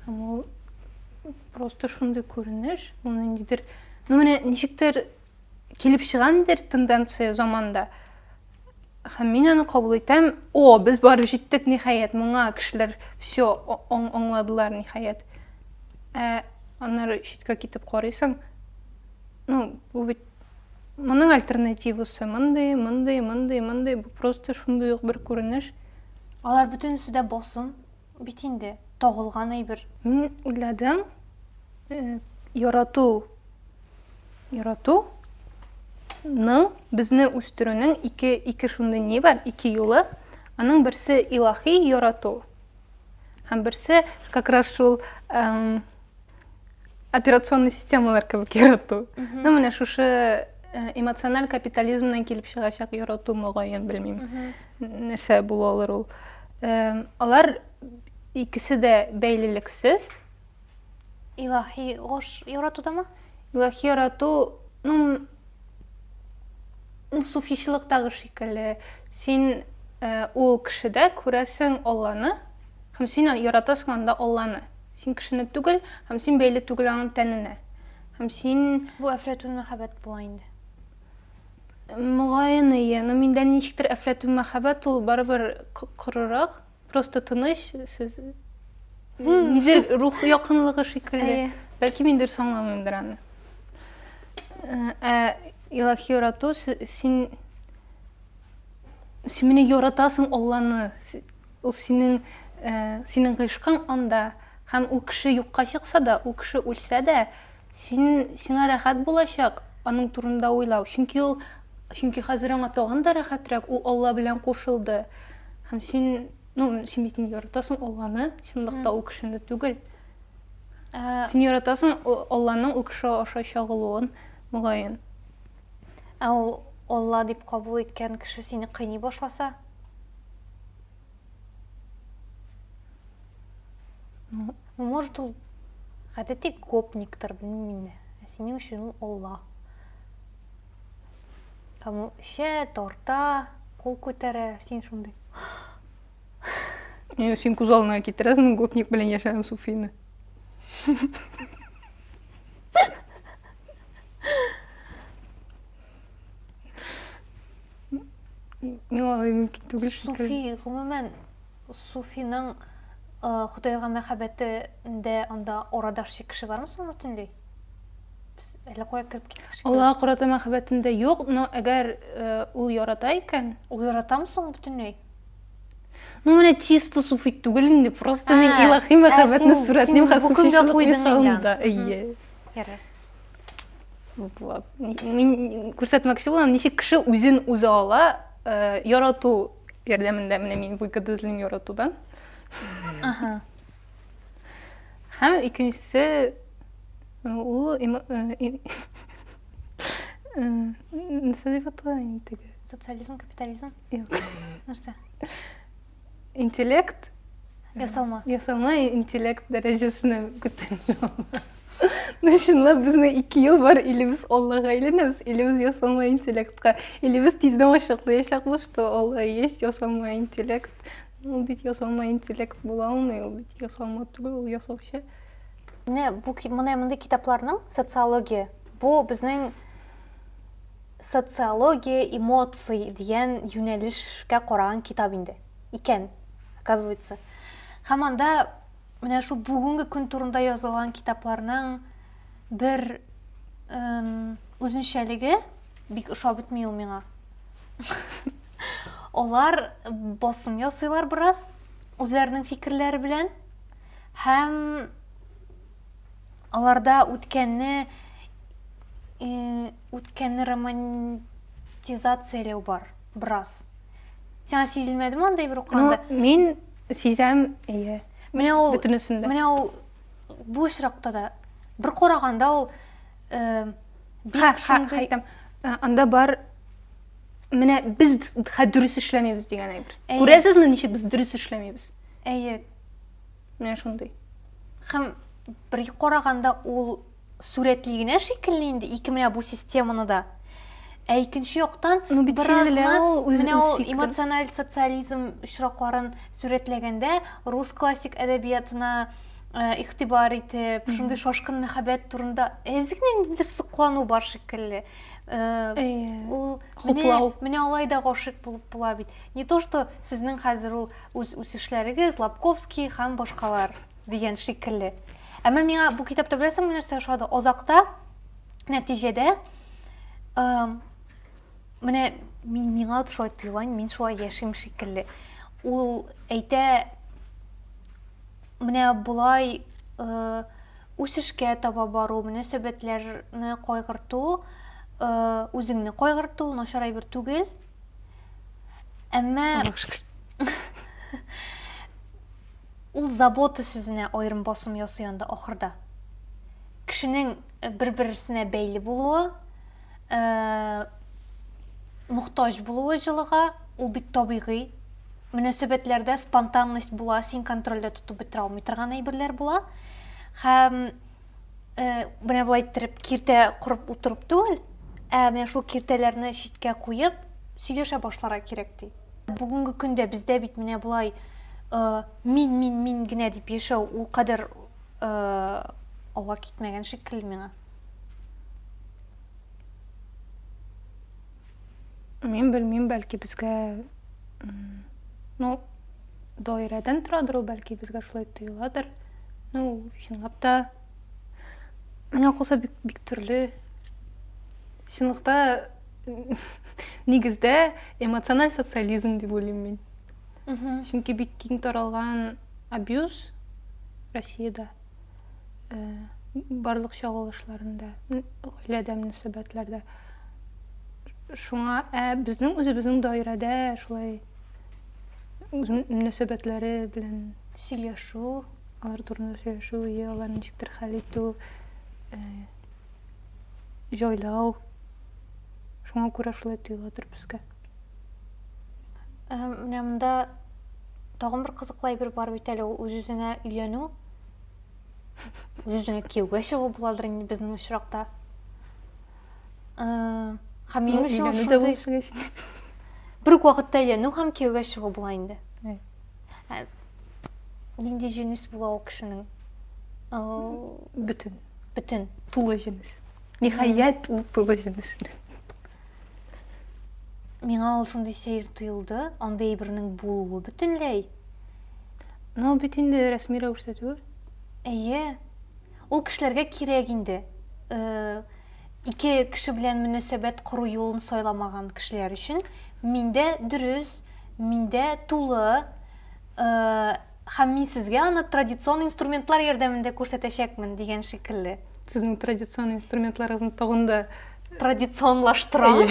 Һәм ул просто шундый күренеш, ул ниндидер, ну менә ничектер килеп чыгандыр тенденция заманда. Һәм мин аны кабул итәм. О, без барып җиттек, ниһаять, моңа кешеләр все аңладылар, ниһаять. Ә аннары читкә китеп карыйсың, ну, бу бит моның альтернативасы мондый, мондый, мондый, мондый, бу просто шундый ук бер күренеш. Алар бөтенесе дә басым. Бит инде, тагылган әйбер. Мин уйладым, ярату, ярату ның безне үстерүнең ике ике шундый ни бар ике юлы аның берсе илахи ярату һәм берсе как раз шул операционный системалар кебек ярату ну менә шушы э, эмоциональ капитализмнан килеп чыгачак ярату мөгаен белмим нәрсә була алыр ул э, алар икесе дә бәйлелексез илаһи гош яратудамы илаһи ярату ну суфичлыктагы шикелле син э, ул кешедә күрәсең алланы һәм син яратасың анда алланы Син кешене түгел, һәм син бәйле түгел аның тәненә. Һәм син... Бу әфләтүн мәхәббәт була инде. Могаен ие, но миндә ничектер әфләтүн мәхәббәт ул барыбер корырак, просто тыныч, сез нидер рух якынлыгы шикелле. Бәлки мин дөрес аңламыймдыр аны. Ә Илаһи ярату син син мине яратасың Алланы Ул синең, синең гыйшкың анда, һәм ул кеше юкка чыкса да, ул кеше үлсә дә, син, сиңа рәхәт булачак аның турында уйлау, чөнки ул, чөнки хәзер аңа тагын да рәхәтрәк, ул Алла белән кушылды. Һәм син, ну, син бит инде яратасың Алланы, чынлыкта ул кешене түгел. Син яратасың Алланың ул кеше аша чагылуын, мөгаен. Ә ул Алла дип кабул иткән кеше сине кыйный башласа? Ну, ну может ул гадәти гопниктыр, белмим инде. Ә синең өчен ул Алла. Һәм ул эчә, тарта, кул күтәрә, син шундый. Юк, син күз алдына китерәсең гопник белән яшәгән суфины. миңа алай мөмкин түгел суфи гомумән суфиның э, худайга мәхәббәтендә анда орадашчы кеше бармы соң бөтенләй без әллә кая кереп киттек шикелле аллага карата мәхәббәтендә юк но әгәр э, ул ярата икән ул яратамы соң бөтенләй ну менә чисто суфи түгел инде просто мин илаһи мәхәббәтне сурәтлим һәм суфичылык мисалында әйе Ярар. Була. Мин күрсәтмәкче булам, ничек кеше үзен үзе ала, э, ярату ярдәмендә менә мин выгода эзлим яратудан. Ага. Һәм икенчесе ну, ул эмо- э, и- э, нәрсә дип атала инде теге? Социализм, капитализм. Юк. Нәрсә? интеллект ясалма ясалма интеллект дәрәҗәсенә күтәрелә ну чынлап безнең ике ел бар или без аллага әйләнәбез или без ясалма интеллектка или без тиздән ачыклаячакбыз что алла есть ясалма интеллект ул бит ясалма интеллект була алмый ул бит ясалма түгел ул ясаучы менә бу менә мондый китапларның социология бу безнең Социология эмоций дигән юнәлешкә караган китап инде. Икән, оказывается. Һәм анда менә шул бүгенге көн турында язылган китапларның бер үзенчәлеге бик ошап бетми ул миңа. Алар басым ясыйлар бераз үзләренең фикерләре белән һәм аларда үткәнне Үткәнне романтизацияләү бар, бераз. Сиңа сизелмәдеме андый бер укыганда? Ну, мин сизәм, әйе. Менә ул бөтенесендә. Менә ул бу очракта да бер караганда ул э, бик шундый э, анда бар менә без хә дөрес эшләмибез дигән әйбер. Күрәсезме, ничек без дөрес эшләмибез? Әйе. Менә шундый. Хәм бер караганда ул сурәтли генә шикелле инде ике менә бу системаны да. Ә икенче яктан ну, бит менә ул эмоциональ социализм очракларын сурәтләгәндә рус классик әдәбиятына э, игътибар итеп, шундый шашкын мәхәббәт турында әзер ниндидер соклану бар шикелле. Э, ул менә менә алай да гашыйк булып була бит. Не то что сезнең хәзер ул үз үсешләрегез, Лапковский һәм башкалар дигән шикелле. Әмма миңа бу китапта беләсеңме нәрсә ошады? Азакта нәтиҗәдә менә миңа шулай тоела, мин шулай яшим шикелле. Ул әйтә менә болай үсешкә таба бару, мөнәсәбәтләрне кайгырту, үзеңне кайгырту начар әйбер түгел. Әмма ул забота сүзенә аерым басым ясый анда ахырда. Кешенең э, бер-берсенә бәйле булуы, э, мохтаҗ булуы җылыга, ул бит табигый. Мөнәсәбәтләрдә спонтанность була, син контрольдә тотып бетерә алмый торган әйберләр була. Һәм Менә болай иттереп киртә корып утырып түгел, ә менә шул киртәләрне читкә куеп, сөйләшә башларга кирәк ди. Бүгенге көндә бездә бит менә болай мин мин мин генә дип яшәү ул кадәр алга китмәгән шикелле миңа. Мин белмим, бәлки безгә ну даирәдән торадыр ул, бәлки безгә шулай тоеладыр. Ну, чынлап та миңа калса бик, бик төрле. Чынлыкта нигездә эмоциональ социализм дип уйлыйм мин. Чөнки бик киң таралган абьюз Россиядә. барлык чагылышларында, гаиләдә мөнәсәбәтләрдә. Шуңа ә безнең үзебезнең даирәдә шулай үз мөнәсәбәтләре белән сөйләшү, алар турында сөйләшү, и аларны ничектер хәл итү, җайлау. Шуңа күрә шулай тоелатыр безгә. Ә, менә монда тагын бер кызыклы әйбер бар бит әле, ул үз-үзеңә өйләнү. Үз-үзеңә кияүгә чыгу буладыр инде безнең очракта. Ә, һәм минем өчен шундый бер үк вакытта өйләнү һәм кияүгә чыгу була инде. Ә, нинди җенес була ул кешенең? Бөтен. Бөтен. Тулы җенес. Ниһаять, ул тулы җенес. Миңа ул шундый сәер тоелды, андый әйбернең булуы бөтенләй. Ну, бит инде рәсми рәвештә түгел. Әйе. Ул кешеләргә кирәк инде. Э, ике кеше белән мөнәсәбәт кору юлын сайламаган кешеләр өчен миндә дөрес, миндә тулы, э, Һәм мин сезгә аны традицион инструментлар ярдәмендә күрсәтәчәкмен, дигән шикелле. Сезнең традицион инструментларыгызны тагын да традиционлаштырам.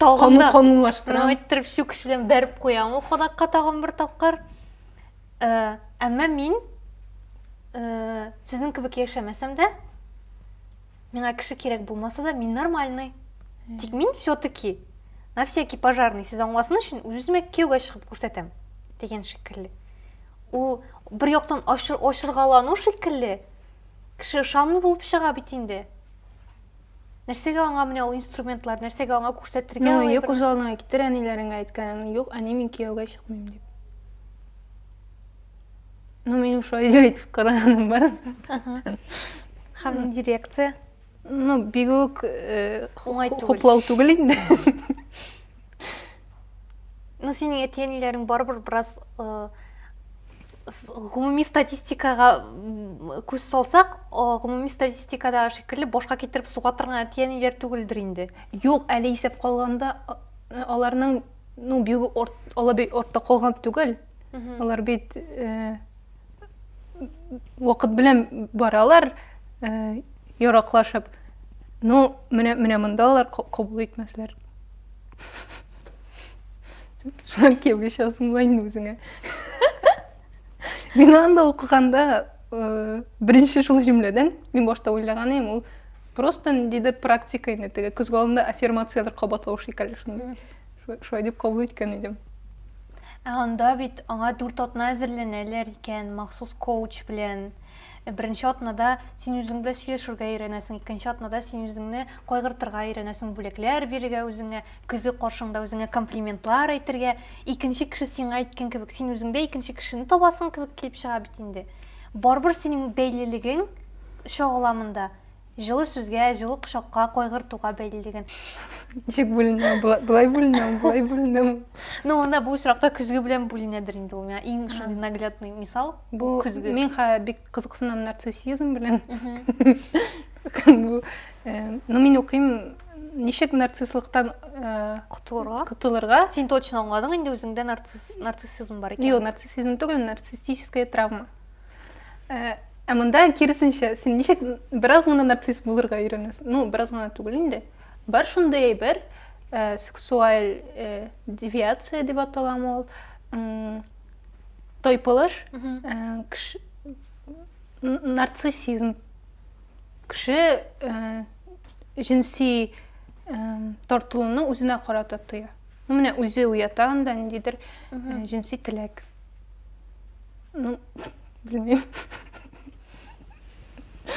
Тагын да канунлаштырам. Әйттереп чүкеш белән бәреп куям ул кадакка тагын бер тапкыр. Э, әмма мин э, сезнең кебек яшәмәсәм дә, Миңа кеше кирәк булмаса да, мин нормальный. Тик мин все-таки на всякий пожарный сез аңласын өчен үземә кияүгә чыгып күрсәтәм дигән шикелле. Ул бер яктан ачыргалану шикелле, кеше ышанмый булып чыга бит инде. Нәрсәгә аңа менә ул инструментлар, нәрсәгә аңа күрсәтергә? Ну, юк үз алдыңа китер әниләреңә әйткән, юк, әни мин кияүгә чыкмыйм дип. ну менің уж өйде өйтіп қарағаным бар һәм дирекция ну бигүк э, оңай түгел хуплау түгел инде ну синең әти әниләрең барыбер бераз э, гомуми статистикага күз салсак гомуми статистикада шикелле башка китереп суга торган әти әниләр түгелдер инде юк әле исәп калганда аларның ну бигүк ала бик артта калган түгел алар бит э, вакыт белән баралар э, яраклашып ну менә менә монда алар кабул итмәсләр шулай кияүгә чыгасың була инде үзеңә мин анда укыганда э, беренче шул җөмләдән мин башта уйлаган идем ул просто ниндидер практика инде теге көзге алдында аффирмацияләр кабатлау шикелле шундый Шулай дип кабул иткән идем. Ә анда бит аңа дүрт атна әзерләнәләр икән, махсус коуч белән. Э, беренче атнада син үзең белән сөйләшергә өйрәнәсең, икенче атнада син үзеңне кайгыртырга өйрәнәсең, бүләкләр бирергә үзеңә, көзе каршыңда үзеңә комплиментлар әйтергә, икенче кеше сиңа әйткән кебек, син үзеңдә икенче кешене табасың кебек килеп чыга бит инде. Барыбер синең бәйлелегең чагыла монда. Җылы сүзгә, җылы кочакка, кайгыртуга бәйле дигән. Ничек бүленә? Болай бүленә, болай бүленә. Ну, анда бу очракта көзге белән бүленәдер инде ул. Иң шундый наглядный мисал бу көзге. Мин ха бик кызыксынам нарциссизм белән. Ну, мин укыйм ничек нарцисслыктан э, котылырга котылырга син точно аңладың инде үзеңдә нарцисс нарциссизм бар икән юк нарциссизм түгел нарциссическая травма Ә, ә монда киресенчә, син ничек бераз гына нарцисс булырга өйрәнәсең? Ну, бераз гына түгел инде. Бар шундый әйбер, ә, сексуаль ә, девиация дип аталам ул. Тойпылыш, ә, кеш... нарциссизм. Кеше ә, җенси ә, тартылуны үзенә карата тоя. Ну, менә үзе уята анда ниндидер ә, җенси теләк. Ну, белмим.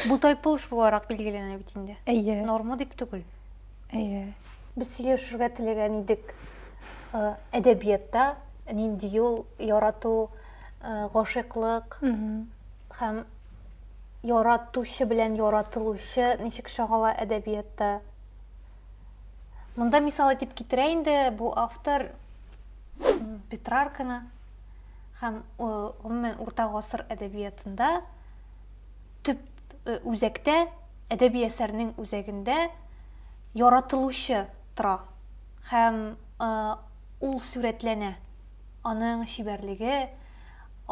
Бу тайпылыш буларак билгеләнә бит инде. Әйе. Норма дип түгел. Әйе. Без сөйләшергә теләгән идек. Э, әдәбиятта нинди юл ярату, э, гашыйклык һәм яратучы белән яратылучы ничек чагыла әдәбиятта? Монда мисал итеп китерә инде бу автор Петрарканы. Һәм, гомумән, урта гасыр әдәбиятында төп үзәктә, әдәби әсәрнең үзәгендә яратылучы тора һәм ул сурәтләнә, аның чибәрлеге,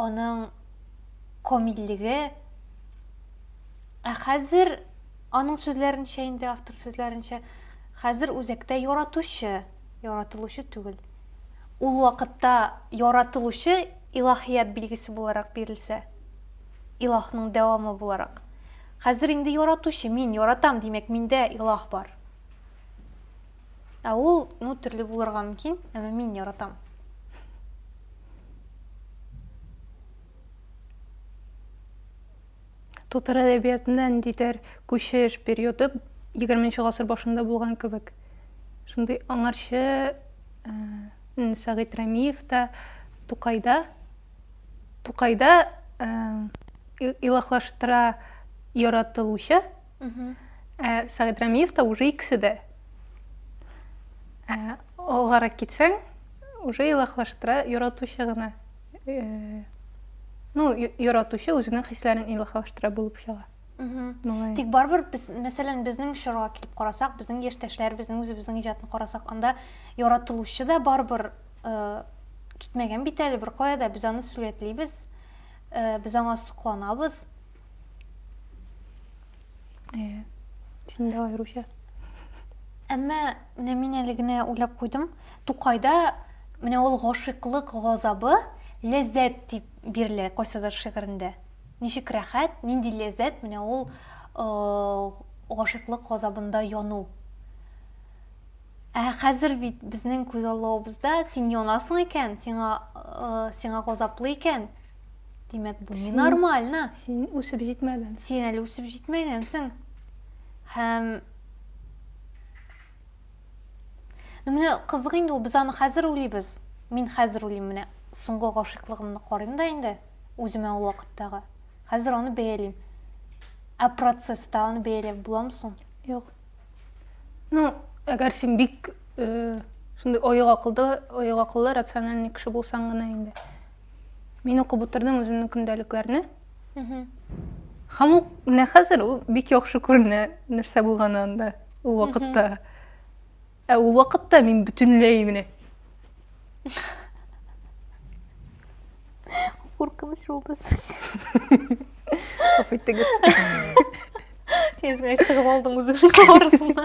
аның комильлеге. Ә хәзер, аның сүзләренчә инде, автор сүзләренчә, хәзер үзәктә яратучы. Яратылучы түгел. Ул вакытта яратылучы илаһият билгесе буларак бирелсә, илаһның дәвамы буларак. Хәзер инде яратучы, мин яратам, димәк, миндә илаһ бар. Ә ул, ну, төрле булырга мөмкин, әмма мин яратам. Татар әдәбиятында ниндидер күчеш периоды 20 гасыр башында булган кебек. Шундый аңарчы э, Сәгыйть Рәмиев та Тукайда Тукайда э, илаһлаштыра яратылучы Ә Сәгыйть Рәмиев та уже икесе дә. Алгарак китсәң, уже илаһлаштыра яратучы гына. ну яратучы үзенең хисләрен илаһилаштыра булып чыга тик барыбер без мәсәлән безнең чорга килеп карасак безнең яшьтәшләр безнең үзебезнең иҗатны карасак анда яратылучы да барыбер э, китмәгән бит әле беркая да без аны сурәтлибез э, без аңа сокланабыз Э, син дә аеруча. Әмма менә мин әле генә уйлап куйдым. Тукайда менә ул гашыйклык газабы ләззәт дип бирелә кайсыдыр шигырендә. Ничек рәхәт, нинди ләззәт менә ул э, гашыйклык газабында яну. Ә хәзер бит безнең күз аллавыбызда син янасың икән, сиңа э, сиңа газаплы икән, Димәк, бу не нормально. Син үсеп җитмәгән. Син әле үсеп җитмәгәнсең. Һәм Ну менә кызык инде ул, без аны хәзер уйлыйбыз. Мин хәзер уйлыйм менә соңгы гашыйклыгымны карыйм да инде үземә ул вакыттагы. Хәзер аны бәялим. Ә процесста аны бәяләп буламы соң? Юк. Ну, әгәр син бик э, шундый оек акылда, оек акыллы, рациональный кеше булсаң гына инде. Мин укып утырдым үземнең көндәлекләрне. Һәм ул менә хәзер ул бик яхшы күренә, нәрсә булганы анда ул вакытта. Ә ул вакытта мин бөтенләй менә Куркыныч булды. Афайтыгыз. Сен чыгып алдың үзеңнең арасына.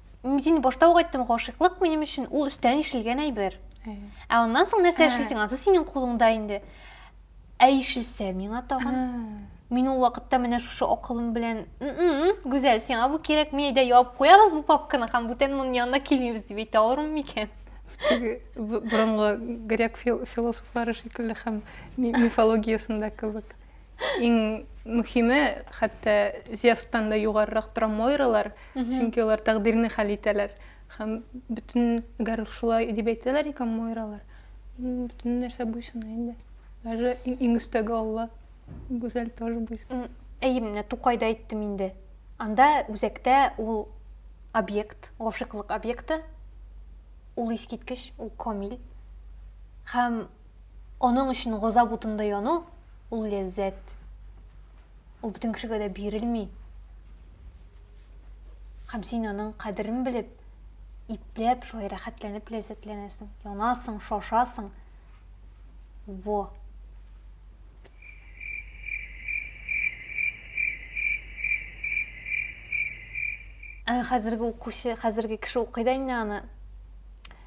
Мин башта ук айттым, гашыйклык минем өчен ул өстән ишелгән әйбер. Ә аннан соң нәрсә эшлисең, анысы синең кулыңда инде. Ә ишелсә миңа тагын. Мин ул вакытта менә шушы акылым белән, Гүзәл, сиңа бу кирәкми, әйдә ябып куябыз бу папканы һәм бүтән моның янына килмибез дип әйтә алырмын микән? Теге борынгы грек философлары шикелле һәм мифологиясендә кебек. Иң мөхиме, хәтта Зевстан да югарырак тора Мойралар, чөнки алар тәкъдирне хәл итәләр. Һәм бөтен, әгәр шулай дип әйтәләр икән Мойралар, бөтен нәрсә буйсына инде. Даже иң өстәге Алла, Гүзәл тоже буйсына. Әйе, менә Тукайда әйттем инде. Анда үзәктә ул объект, гашыйклык объекты, ул искиткеч, ул камил. Һәм Аның өчен газап утында яну, ул ләззәт. Ул бөтен кешегә дә бирелми. Һәм син аның кадерен белеп, ипләп, шулай рәхәтләнеп ләззәтләнәсең, янасың, шашасың. Во. Ә хәзерге укучы, хәзерге кеше укый да инде аны.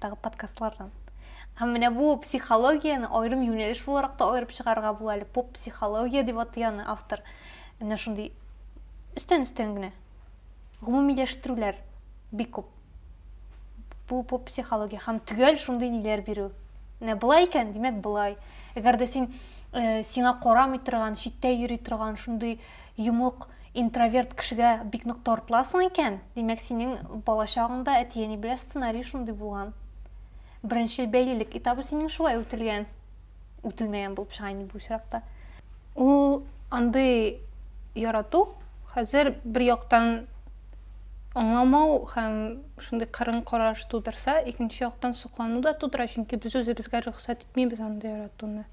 тагы подкастлардан. Һәм менә бу психологияне аерым юнәлеш буларак та аерып чыгарырга була әле. Поп психология дип атый аны автор. Менә шундый өстән-өстән генә гомумиләштерүләр бик күп. Бу поп психология һәм төгәл шундый ниләр бирү. Менә былай икән, димәк былай. Әгәр дә син э, сиңа карамый торган, читтә йөри торган шундый Йомык, интроверт кешегә бик нык тартыласың икән, димәк, синең балачагыңда әти-әни белән сценарий шундый булган. Беренче бәйлелек этабы синең шулай үтелгән. Үтелмәгән булып чыга инде бу очракта. Ул андый ярату хәзер бер яктан аңламау һәм шундый кырын караш тудырса, икенче яктан соклану да тудыра, чөнки без үзебезгә рөхсәт итмибез андый яратуны.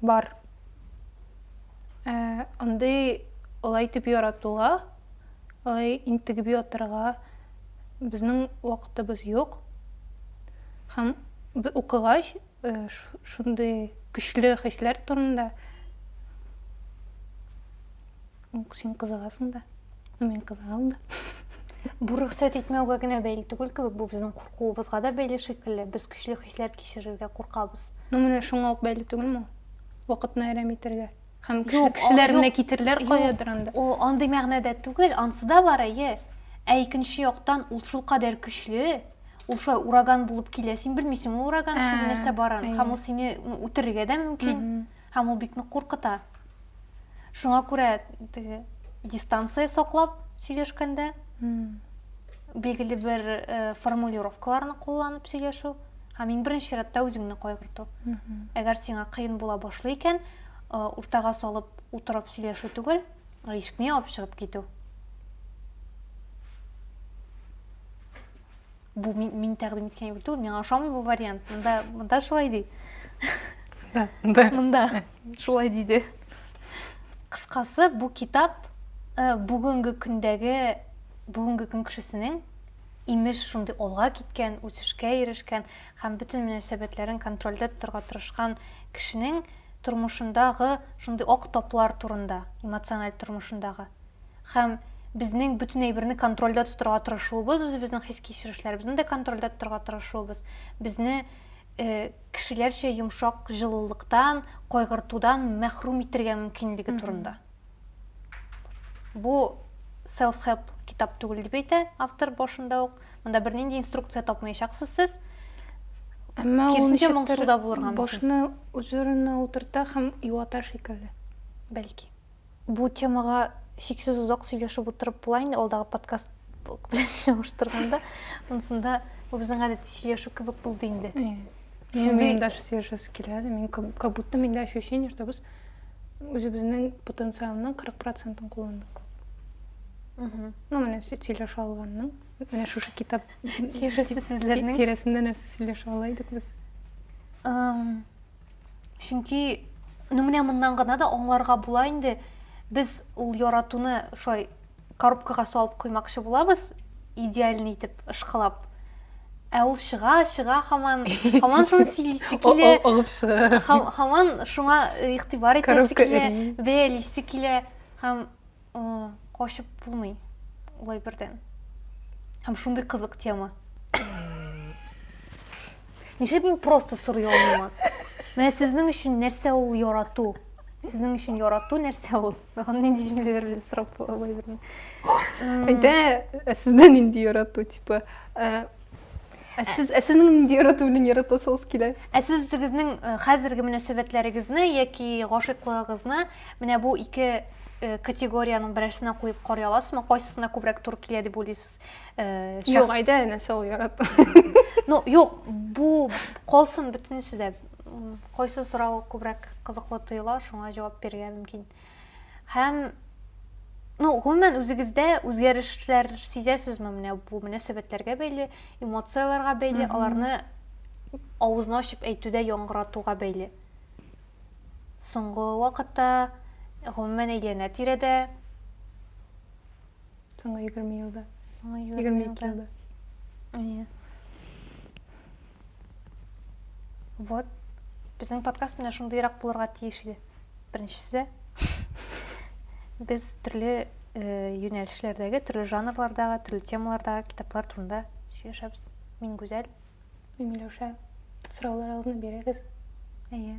Бар. Ә, андый алай итеп яратуга, алай интегеп ятырга безнең вакытыбыз юк. Һәм укыгач, э, шундый көчле хисләр турында Ук син кызыгасың да. Мин кызыгам да. Бу рөхсәт итмәүгә генә бәйле түгел кебек, бу безнең куркуыбызга да бәйле шикелле. Без көчле хисләр кичерергә куркабыз. Ну менә шуңа ук бәйле түгелме ул? Вакытны әрәм итәргә. Һәм кеше, юк, кешеләр юк, менә китерләр каядыр анда. О, андый мәгънәдә түгел, ансы да бар, әйе. Ә икенче яктан ул шул кадәр көчле, ул шулай ураган булып килә, син белмисең ул ураган эчендә нәрсә барын, һәм ул сине үтерергә дә мөмкин. Һәм ул бик нык куркыта. Шуңа күрә теге дистанция саклап сөйләшкәндә билгеле бер э, формулировкаларны кулланып сөйләшү һәм иң беренче чиратта үзеңне кайгырту. Әгәр сиңа кыен була башлый икән, э, уртага салып утырып сөйләшү түгел, ә ишекне ябып чыгып китү. Бу мин, мин тәкъдим иткән юл түгел, миңа ошамый бу вариант. Монда, монда шулай ди. Да, да. Монда шулай диде. Кыскасы, бу китап э, бүгенге көндәге бүгенге көн кешесенең имеш шундый алга киткән, үсешкә ирешкән һәм бөтен мөнәсәбәтләрен контрольдә тотарга тырышкан кешенең тормышындагы шундый ак таплар турында, эмоциональ тормышындагы. Һәм безнең бөтен әйберне контрольдә тотырга тырышуыбыз, үзебезнең хис-кичерешләребезне дә контрольдә тотырга тырышуыбыз, безне э, кешеләрчә йомшак җылылыктан, кайгыртудан мәхрүм итергә мөмкинлеге турында. Бу self-help китап түгел дип әйтә автор башында ук. Монда бернинди инструкция тапмаячаксыз сез. Әмма ул ничектер башны үз урынына утырта һәм юата шикелле, бәлки. Бу темага чиксез озак сөйләшеп утырып була инде алдагы подкаст белән чагыштырганда. Монсында бу безнең гадәти сөйләшү кебек булды инде. Мин даже сөйләшәсе килә. Мин как будто миндә ощущение, что без үзебезнең потенциалның 40%-ын кулландык. Угу. Ну, менә сөйләшә алганның. Менә шушы китап сөйләшәсе сүзләрнең тирәсендә нәрсә сөйләшә ала идек без? чөнки ну менә моннан гына да аңларга була инде без ул яратуны шулай коробкага салып куймакчы булабыз идеальный итеп ышкылап ә ул чыга чыга хаман хаман шуны сөйлисе килә агып чыга хаман шуңа игътибар итәсе килә бәялисе килә һәм качып булмый улай бердән һәм шундый кызык тема нишләп мин просто сорый алмыйм менә сезнең өчен нәрсә ул ярату сезнең өчен ярату нәрсә ул маған нинди җөмләләр белән сорап була улай бердән әйтә сездә нинди ярату типа ә сез ә сезнең нинди ярату белән яратасыгыз килә ә сез үзегезнең хәзерге мөнәсәбәтләрегезне яки гашыйклыгыгызны Менә бу ике Э, категориянең берәрсенә куеп карый аласызмы кайсысына күбрәк туры килә дип уйлыйсыз э, юк әйдә әнә сол ярату ну юк бу калсын бөтенесе дә кайсы сорау күбрәк кызыклы тоела шуңа җавап бирергә мөмкин һәм ну гомумән үзегездә үзгәрешләр сизәсезме менә бу мөнәсәбәтләргә бәйле эмоцияләргә бәйле аларны авызны ачып әйтүдә яңгыратуга бәйле Соңгы вакытта, гомумән әйләнә-тирәдә. Соңгы 20 елда. Соңгы 22 елда. Әйе. Вот. Безнең подкаст менә шундыйрак булырга тиеш иде. Беренчесе, без төрле э, юнәлешләрдәге, төрле жанрлардагы, төрле темалардагы китаплар турында сөйләшәбез. Мин Гүзәл, Миләүшә, сорауларыгызны бирегез. Әйе.